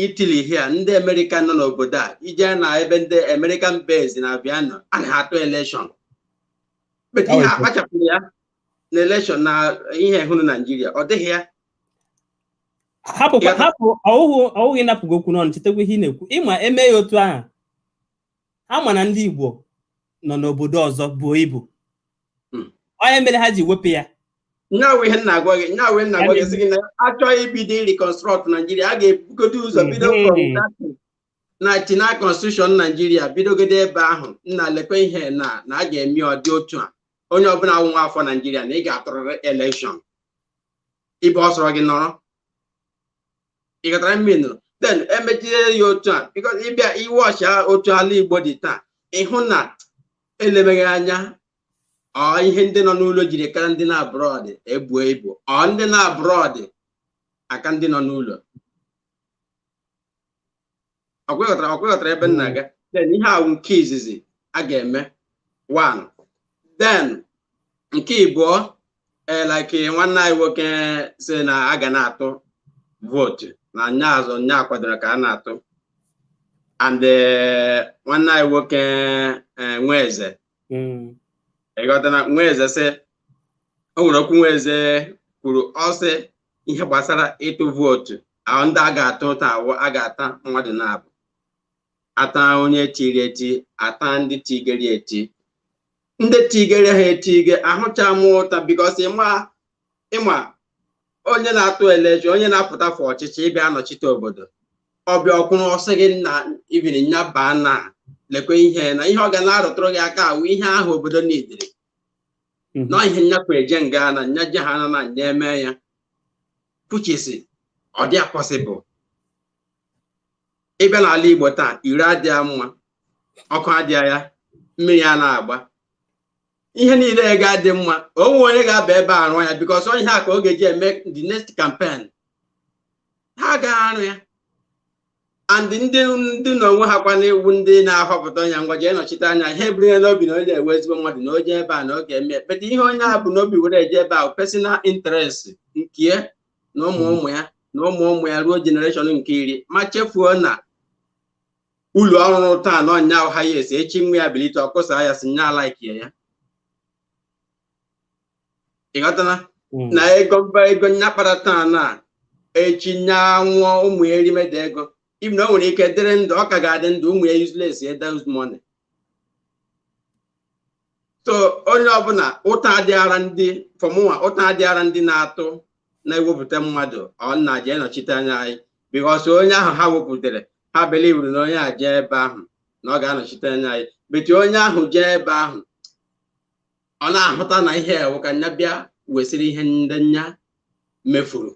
italy here ndị amerịka nọ n'obodo a ejee na ebe ndị american base na aviano a na-atụ elekshọn but ihe akpachapụrụ ya na elekshọn na ihe hụrụ naijiria ọ dịghị ya hapụ hapụ ọwụghị ịnapụ gị okwu n'ọnụ chetakwa ihe ị na-ekwu ị ma e mee ya otu ahụ ha ma na ndị igbo nọ n'obodo ọzọ buo ibu hmm. ọ nya mere ha ji wepụ ya nya wụ ihe m na-agwa gị nya wụ m na-agwa gị sị gị na a chọọ ibido reconstruct Naijiria a ga-ebugodo ụzọ hmm. bido 99 constitution Naijiria bidogodo ebe ahụ nna lekwe ihe na na a ga-eme ọ dị otu a onye ọbụla wụ nwa afọ Naijiria na ị ga-atụrịrị elekshọn ebe ọ sọrọ gị nọrọ ị ghọtara m nụ then emechie ya otu a because ị bịa watch otu ala igbo dị taa ị hụ na elemeghị anya ọ ihe ndị nọ n'ụlọ jiri kara ndị nọ abroad ebuo ibu ọ ndị nọ abroad aka ndị nọ n'ụlọ ọkwa ọkwa ị ghọtara ebe m na-aga then ihe a wụ nke izizi a ga-eme one then nke ịbụọ eh, like nwanne anyị nwoke sị na a ga na-atụ vootu na nya azụ nya kwadoro ka a na-atụ and eh, nwanne anyị nwoke eh, Nweze Mm. ịghọtana Nweze sị o nwere okwu Nweze kwuru ọ sị ihe gbasara ịtụ vootu ahụ ndị a ga-ata ụta awụ a ga-ata mmadụ naabọ ata onye tiri eti ata ndị tigere eti ndị tigere ha etige ahụcha m ụta because ịma ịma onye na-atụ election onye na-apụta for ọchịchị ịbịa anọchite obodo ọ bịa ọ kwụrụ ọ sị gị na if nya baa na lekwe ihe na ihe ọ ga na-arụtụrụ gị aka awụ ihe ahụ obodo needịrị na ihe nyakwa eje nga na nya je ha na na nya eme ya puchisi ọ dị possible ịbịa n'ala Igbo taa iro adịghị mma ọkụ adịghị ya mmiri anaghị agba ihe niile agaghị adị mma o nweghị onye ga-aba ebe a arụ ya because ọ ihe a ka ọ ga-eji eme the next campaign ha agaghị arụ ya and ndị ndị na onwe ha kwana iwu ndị na-ahọpụta onye ngwa jee nọchite anya anyị eburu ya n'obi na onye a wụ ezigbo mmadụ na o jee ebe a na ọ ga-eme but ihe onye a bu n'obi were eje ebe a personal interest nke na ụmụ ụmụ ya na ụmụ ụmụ ya ruo generation nke iri ma chefuo na ụlọ ọ rụrụ taa na ọnya ha ya esi echi nwa ya bilite ọ kụsaa ya sị nya alikeghị ya ịghọtana hmm. na ego mba ego nya kpara taa na echi nya nwụọ ụmụ ya erimeda ego even na o nwere ike dịrị ndụ ọ ka ga-adị ndụ ụmụ ya uselessie those money so onye ọbụla ụta adịghara ndị for mụnwa ụta adịghara ndị na-atụ na-ewepụta mmadụ ọ na-eje nọchite anya anyị because onye ahụ ha wepụtara ha belivuru na onye a jee ebe ahụ na ọ ga-anọchite anya anyị but onye ahụ jee ebe ahụ ọ na-ahụta na ihe a wụ ka nya bịa wesịrị ihe ndị nya mefuru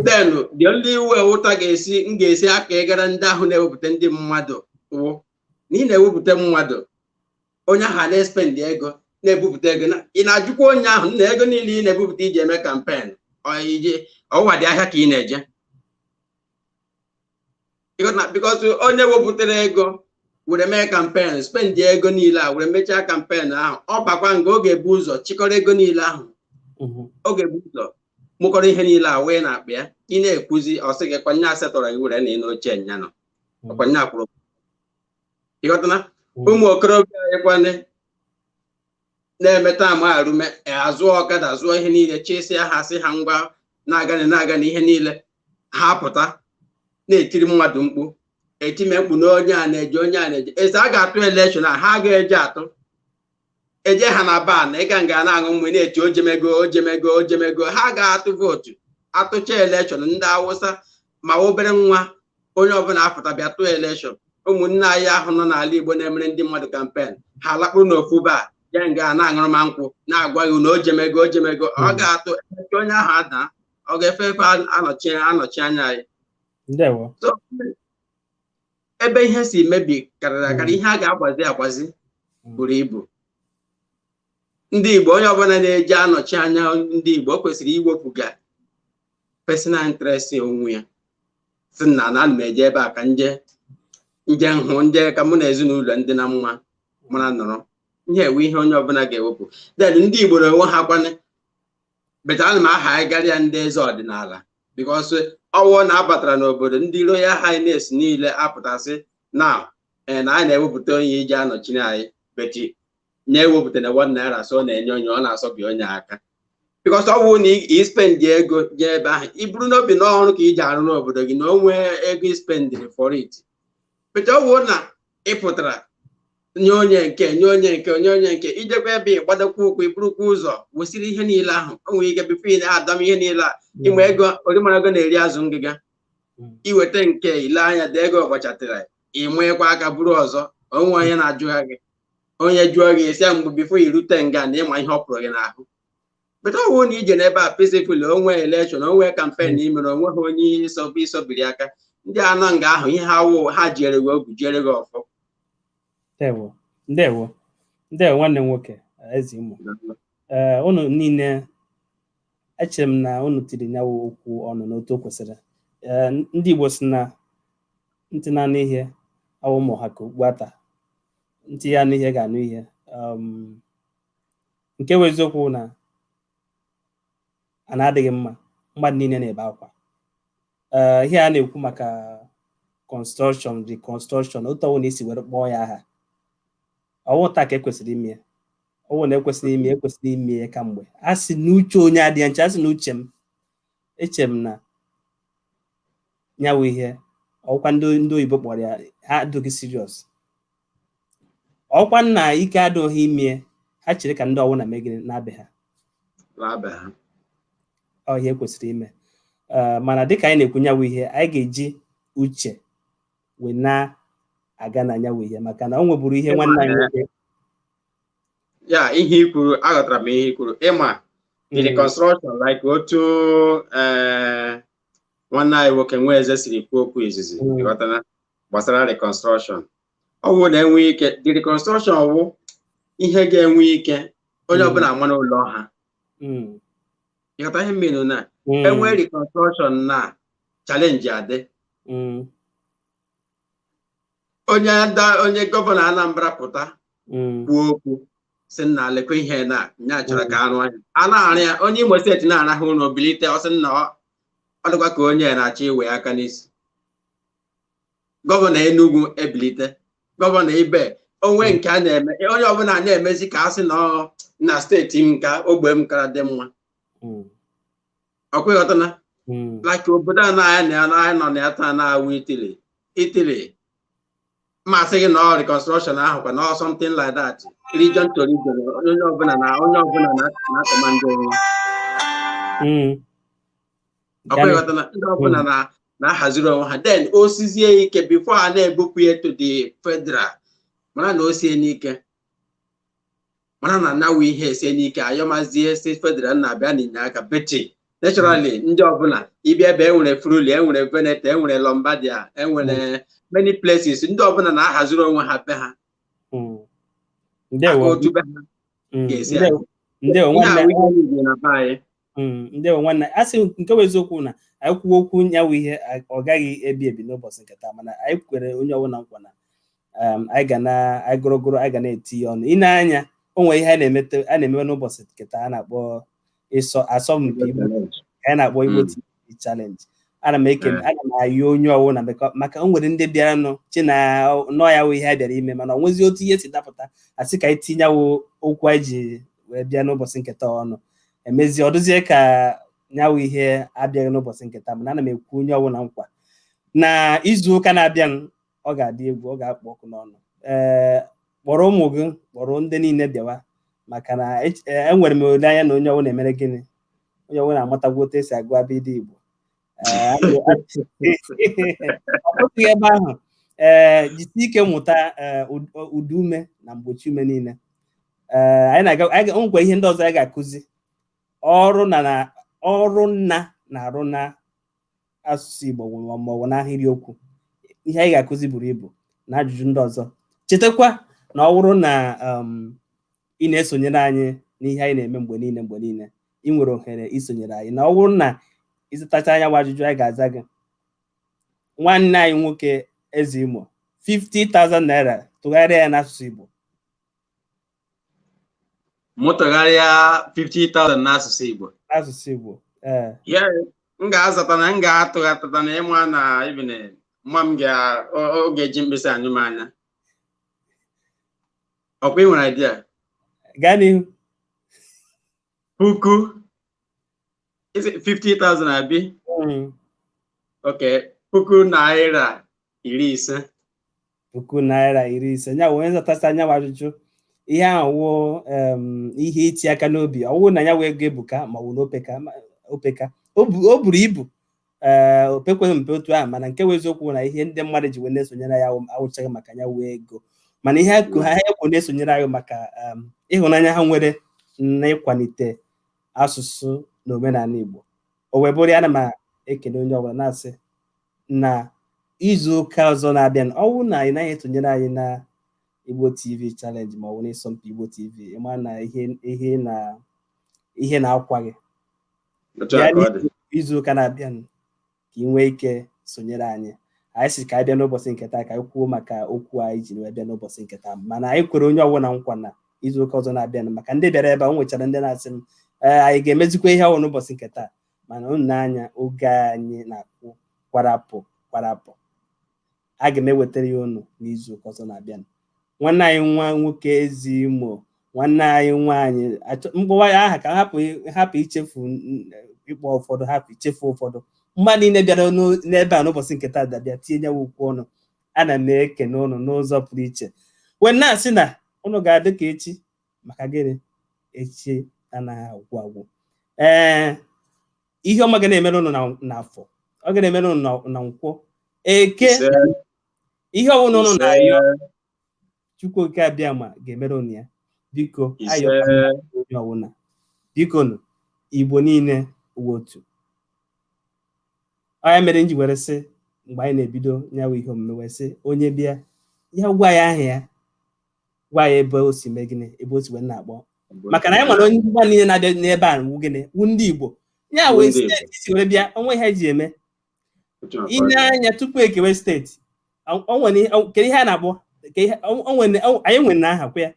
then the only way ụta ga-esi m ga-esi aka ịgara ndị ahụ na-ewepụta ndị mmadụ wụ na ị na-ewepụta mmadụ onye ahụ na-espendị ego na-ebupụta ego ị na-ajụkwa onye ahụ na ego niile ị na-ebupụta iji eme campaign iji ọ wụdị ahịa ka ị na-eje because onye wepụtara ego were mee campaign spendị ego niile a were mechaa campaign ahụ ọ bakwa nga ọ ga-ebu ụzọ chịkọrọ ego niile ahụ mhm. ọ ga-ebu ụzọ mụkọrọ ihe niile a wee na-akpa ya ị na-ekwuzi ọ sị gị kwa nya asetọrọ gị were na ị n'oche nya nọ ọkwa nye akwụrụ ịghọtana ụmụ okorobịa anyị kwane na-emeta ama arume azụ ọkada zụọ ihe niile chịsịa ha sị ha ngwa na-aganụ na-aganụ ihe niile ha pụta na-etiri mmadụ mkpu etime mkpu na onye a na-eje onye a na-eje eze a ga-atụ elekshọn a ha ga-eje atụ eje ha na bar ịga nga na-aṅụ mmị na-eti o jemego o jemego o jemego ha ga-atụ vootu atụcha elekshọn ndị awụsa ma obere nwa onye ọbụla apụta bịa tụọ elekshọn ụmụnne anyị ahụ nọ n'ala igbo na-emere ndị mmadụ kampen ha lakpuru n'ofu bar je nga na-aṅụrụ mmaị nkwụ na-agwa gị na o jemego o jemego ọ hmm. ga-atụ emechaa onye ahụ ada ọ ga-efe efe anọchi anya anyị ebe ihe si mebi karịrị akarị ihe a ga-agbazi agbazi buru ibu ndị Igbo onye ọbụla na-eje anọchi anya ndị Igbo o kwesịrị iwepụga personal interest onwe ya sị na na ana m eje ebe a ka nje nje nhụ nje ka mụ na ezinụlọ ndị na mma mara nọrọ ihe a wụ ihe onye ọbụla ga-ewepụ then ndị Igbo na onwe ha kwane beti ana m aha anyị garịa ndị eze ọdịnala bikos ọwụ na abatara n'obodo ndị royal highness niile apụta sị na ee na anyị na-ewepụta onye iji anọchiri anyị beti na-ewepụta na one naira so ọ na-enye onye ọ na-asọbi onye aka bikos ọ bụrụ na ispendị ego jee ebe ahụ iburu n'obi na ọrụ ka i je arụ n'obodo gị na o nwee ego ispendịrị for it beti ọwụ na ị pụtara nye onye nke nye onye nke nye onye nke ijekwa ebe ị gbadokwa ụkwụ i burukwa ụzọ wesịrị ihe niile ahụ o nwere ike bifo ị na-adọm ihe niile a ịma ego orimara ego na-eri azụ ngịga iweta nke ile anya dị ego ọgbachatịra ịmanyekwa aka buru ọzọ onwe onye na-ajụgha gị onye jụọ gị esi mgbe bifo irute nga na ịma ihe ọ pụrụ gị n'ahụ beti ọwụ na ije n'ebe a peacefully onwe elekshọn onwe kampen na imere onweghị onye ịsọbụ ịsọbiri aka ndị a nọ nga ahụ ihe a wụ ha jiere gị ogu jiere gị ọfọ ndewo ndewo ndewo nwanne m nwoke ezi ụmụ ee unu niile echere m na unu tiri nya wụ okwu ọnụ n'otu o kwesịrị ee ndị igbo si na ntị na-anụ ihe awụ ma ọ ha ka okpu ata ntị ya anụ ihe ga-anụ ihe um, nke bụ eziokwu na ana adịghị mma mmadụ niile na-ebe akwa ee ihe a na-ekwu maka kọnstrọkshọn rikọnstrọkshọn otu ọwụ na esi were kpọọ ya aha ọwụ taa ka ekwesịrị ime ya ọwụ na ekwesịrị ime ekwesịrị ime ya kamgbe a sị na uche onye adịghị njọ a sị na uche m eche m na nya wụ ihe ọkwa ndị ndị oyibo kpọrọ ya ha adịghị serious ọkwa nna ike adịghị ime ha chere ka ndị ọwụna mee gịnị naa be ha naa be ha ọ ihe kwesịrị ime Ee, mana dịka anyị na-ekwu nya wụ ihe anyị ga-eji uche wee na-aga na nya wụ ihe maka na o nweburu ihe nwanne anyị nwoke ya ihe i kwuru aghọtara m ihe i kwuru ịma in the Mm, reconstruction like otu eh, nwanne anyị nwoke Nwaeze siri kwuo okwu izizi Mm. ịghọtana gbasara reconstruction ọ bụrụ na e nwee ike the reconstruction wụ ihe ga-enwe ike onye ọbụla ama n'ụlọ ha ịghọta ihe m mean na e nwee reconstruction na challenge adị onye ada onye gọvanọ Anambra pụta kwuo okwu sị nna lekwa ihe na nya chọrọ ka a rụọ nya a na-arụ ya onye Imo steeti na-arahụ ụra o bilite ọ sị nna ọ dịkwa ka onye na-achọ iwe aka n'isi gọvanọ Enugu ebilite gọvanọ Ibe onwe nke a na-eme onye ọbụla na-emezi ka a sị na ọ na steeti m ka ogbe m kara dị mma Mm. ọkwa ịghọtana Mm. like obodo a na anyị na ya na anyị nọ na ya taa na-awụ Italy Italy m asị gị na ọ reconstruction ahụ kwa na ọ something like that region to region onye ọbụla na onye ọbụla na- na-akọmandị onwe Mm. ndị ọbụla na-ahaziri onwe ha then o sizie ike before a na-ebupụ ya to the federal mara na o siene ike mara na nya wụ ihe esiene ike a yọwazie sị federal nna bịanụ nye aka but naturally hmm. ndị ọbụla ị bịa ebe enwere Friuli enwere Veneto enwere Lombardia enwere hmm. many places ndị ọbụla na-ahaziri onwe ha be ha hmm. otu be ha ga-esi Mm, ndewo nwanne a sị nke bụ eziokwu na anyị kwuo okwu nya wụ ihe a- ọ gaghị ebi ebi n'ụbọchị nke taa mana anyị kwere onye ọbụla nkwa na um, anyị ga na anyị gụrụgụrụ anyị ga na-etinye ọnụ i nee anya o nwere ihe a na-emete a na-emewe n'ụbọchị nke taa a na-akpọ ịsọ asọmpi Igbo ka anyị na-akpọ Igbo Mm. TV. challenge ana m ekele ana m ayọ onye ọwụna maka o nwere ndị bịaranụ chee na na ọ ya wụ ihe a bịara ime mana o nwezie otu ihe si dapụta a sị ka anyị tinyewo okwu anyị ji wee bịa n'ụbọchị nketa ọnụ emezi ọ dụzie ka nya wụ ihe abịaghị n'ụbọchị nketa mana ana m ekwe onye ọwụna nkwa na izu ụka na-abịa ọ ga-adị egwu ọ ga-akpọ ọkụ n'ọnụ ee kpọrọ ụmụ gị kpọrọ ndị niile bịawa maka na ech- ee, enwere m olileanya na onye ọwụna emere gịnị onye ọwụna amatagwo otu esi agụ abịịdịị Igbo Ee, a ga- a- ọ bụghị ebe ahụ ee jisi ike mụta ee, ụd- ụdaume na mgbochiume niile ee anyị na-aga anyị ga- o nwekwa ihe ndị ọzọ anyị ga-akụzi ọrụ na na ọrụ nna na-arụ na asụsụ Igbo um, ma ọ wụ n'ahịrịokwu ihe anyị ga-akụzi buru ibu na ajụjụ ndị ọzọ chetakwa na ọ wụrụ na um, ị na-esonyere anyị n'ihe anyị na-eme mgbe niile mgbe niile ị nwere ohere isonyere anyị na ọ wụrụ na ị zatacha nyawa ajụjụ anyị ga-aza gị nwanne anyị nwoke eze imo 50,000 naira tụgharịa ya n'asụsụ Igbo mụ tụgharịa 50,000 n'asụsụ Igbo asụsụ Igbo ee ya m ga-azata na m ga-atụghatata na ị ma na even ma m ga- ọ- ọ ga-eji mkpịsị anyụ m anya ọ kwa ị nwere idea gaa n'ihu puku is it 50,000 abi Mm, okay puku naira iri ise puku naira iri ise nya wee zatasịa nyawa ajụjụ ihe ahụ wụ em, ihe iti aka n'obi ọ wụ na nyawa ego ebuka ma ọ wụ na o peka ma- o peka o bu- o buru ibu ee eh, o pekweghị mpe otu ahụ mana nke wụ eziokwu na ihe ndị mmadụ ji wee na-esonyere ya awụchaghị maka nyawa ego mana ihe akụ ha ekwu na-esonyere anyị maka um, ịhụnanya ha nwere na ịkwalite asụsụ na omenala Igbo o wee bụrụ ana m ekene onye ọbụla na-asị na izu ụka ọzọ na-abịanụ ọ wụ na ị naghị esonyere anyị na Igbo TV challenge ma ọ wụ n'ịsọmpi Igbo TV ị ma na ihe na ihe na-akwa gị Otu a ka ọ dị. izu ụka na-abịanụ ka ị nwee ike sonyere anyị anyị sị ka anyị bịa n'ụbọsị nke taa ka anyị kwuo maka okwu anyị ji wee bịa n'ụbọsị nke taa mana anyị kwere onye ọbụla nkwa na izu ụka ọzọ na-abịanụ maka ndị bịara ebe a o nwechara ndị na-asị m ee anyị ga-emezikwa ihe ahụ n'ụbọsị nke taa mana unu nee anya oge anyị na-akụ kwarapụ kwarapụ aga m ewetara ya unu n'izu ụka ọzọ na-abịanụ nwanne anyị nwa nwoke eze imo nwanne anyị nwaanyị achọ- m kpọwa ya aha ka hapụ hapụ ichefu n- ịkpọ ụfọdụ hapụ ichefu ụfọdụ mmadụ niile bịara n'o- n'ebe a n'ụbọsị nke taa dabịa tinye nyawa okwu ọnụ ana m ekene ụnụ n'ụzọ pụrụ iche wee na-asị na ụnụ ga-adị ka echi maka gịnị echi anaghị agwụ agwụ ee ihe ọma ga na-emere ụnụ na- n'afọ ọ ga na-emere ụnụ na- na nkwọ eke Ise, ihe ọbụla ụnụ na-ayọ ise, chukwu oke abịama ga-emere ụnụ ya biko ise. ayọ onye ọbụla biko nụ igbo niile nwee otu ọ nya mere m ji were sị mgbe anyị na-ebido nyawa ihe omume wee sị onye bịa ya gwa ya aha ya gwa ya ebe o si mee gịnị ebe o si wee na-akpọ maka na anyị nwere onye mba niile na-abịa n'ebe a wu gịnị wu ndị Igbo ya Wu wee ndị Igbo. steeti si were bịa o nwe ihe e ji eme Otu a ka ọ ile dị. anya tupu e kewe steeti o- o nwere ihe- o- kedu ihe a na-akpọ Ke ihe- o- o nwere- o- anyị nwere na aha kwa ya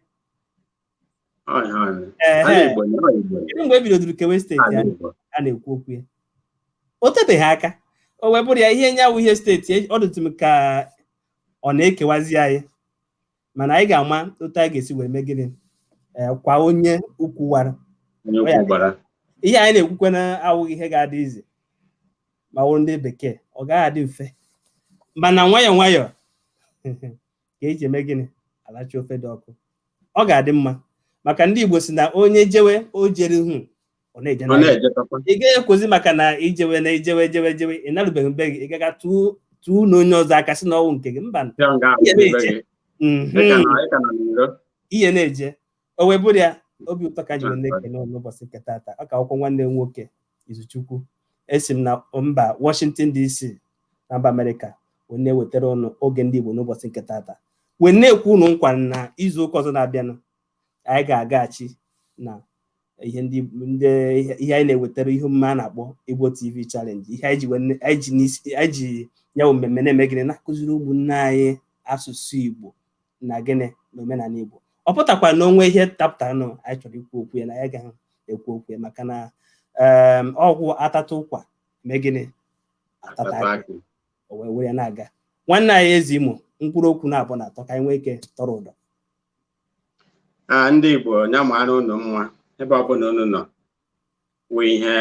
Ọ ya, ọ ya. Ehe. Ala Igbo ya, ọ Igbo ya. kedu mgbe e bidodoro kewe steeti Ala ahụ Igbo. a na-ekwu okwu ya o tebeghị aka o wee bụrụ ya ihe nya wụ ihe steeti e- ọ dịtụ m ka ọ na-ekewazi anyị mana anyị ga-ama otu anyị ga-esi wee mee gịnị ee kwa onye ukwu wara onye Ọ ya ukwu gbara ihe anyị na-ekwukwe na awụghị ihe ga-adị easy ma wụrụ ndị bekee ọ gaghị adị mfe mana nwayọọ nwayọọ ka e ji eme gịnị alacha ofe dị ọkụ ọ ga-adị mma maka ndị Igbo si na onye jewe o jere ihu ọ na-eje ọ na na-ejetakwa ị gaghị ekwuzi maka na i jewe na i jewe jewe jewe ị narubeghị be gị ị ga-aga tụọ tụọ na onye ọzọ aka sị na ọ wụ nke gị mba ya nga ahụ Ihe ebe na-eche. gị Mhm. Ị ka na- ị ka na n'iro ihe na-eje o wee bụrụ ya obi ụtọ ka m ji wee na-ekene ụnụ n'ụbọchị nke tata ọ ka akwụkwọ nwanne m nwoke Izuchukwu esi m na mba Washington DC na mba Amerịka wee na-ewetara ụnụ oge ndị Igbo n'ụbọchị nke tata wee na-ekwe ụnụ nkwa na izu ụka ọzọ na-abịanụ anyị ga-agaghachi na ihe ndị ndị ihe ihe anyị na-ewetara ihe omume a na-akpọ Igbo TV Challenge ihe anyị ji wee ne- anyị ji n'isi- anyị ji ya bụ mmemme na-eme gịnị na-akụziri ụmụnne anyị asụsụ Igbo na gịnị na omenala Igbo ọ pụtakwa na o nwe ihe dapụtaranụ anyị chọrọ ikwu okwu ya na anyị ga-ekwu okwu ya maka na em, ọgwụ atata ụkwa mee gịnị atata Tata akị akị. o wee were ya na-aga nwanne anyị Eze Imo mkpụrụ okwu naabọ na atọ ka anyị nwee ike tọrọ ụdọ a ndị Igbo ya mara unu mma ebe ọbụla unu nọ nwee ihe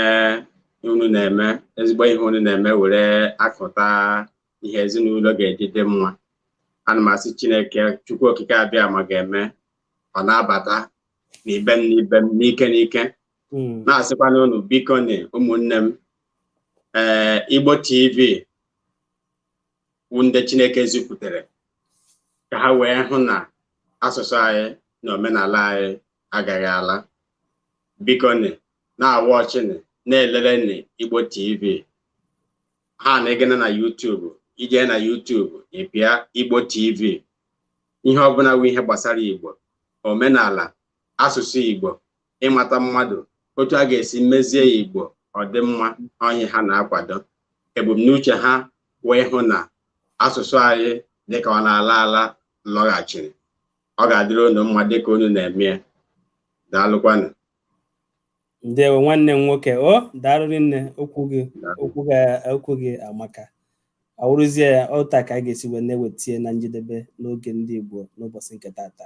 unu na-eme ezigbo ihe unu na-eme were akụta ihe ezinụlọ ga-eji dị mma ana m asị Chineke Chukwu Okike Abịama ga-eme ọ na-abata n'ibe m n'ibe m n'ike n'ike hmm. na-asịkwana unu bikonị ụmụnne m ee eh, Igbo TV wụ ndị Chineke zipụtara ka ha wee hụ na asụsụ anyị na omenala anyị agaghị ala bikonị na-awatchịnị na-elelenị Igbo TV ha na ịgana na YouTube i je na YouTube ị pịa Igbo TV ihe ọbụla wụ ihe gbasara Igbo omenala asụsụ Igbo ịmata mmadụ otu a ga-esi mezie Igbo ọdịmma onye ha na-akwado ebumnuche ha wee hụ na asụsụ anyị dịka ọ na-ala ala lọghachiri ọ ga-adịrị unu mma dịka unu na-eme ya daalụkwanụ ndewo nwanne m nwoke o daalụ rinne okwu gị amaka ọ wụrụzie ya otu a ka a ga-esi wee na-ewetie na njedebe n'oge ndị Igbo n'ụbọchị nke tata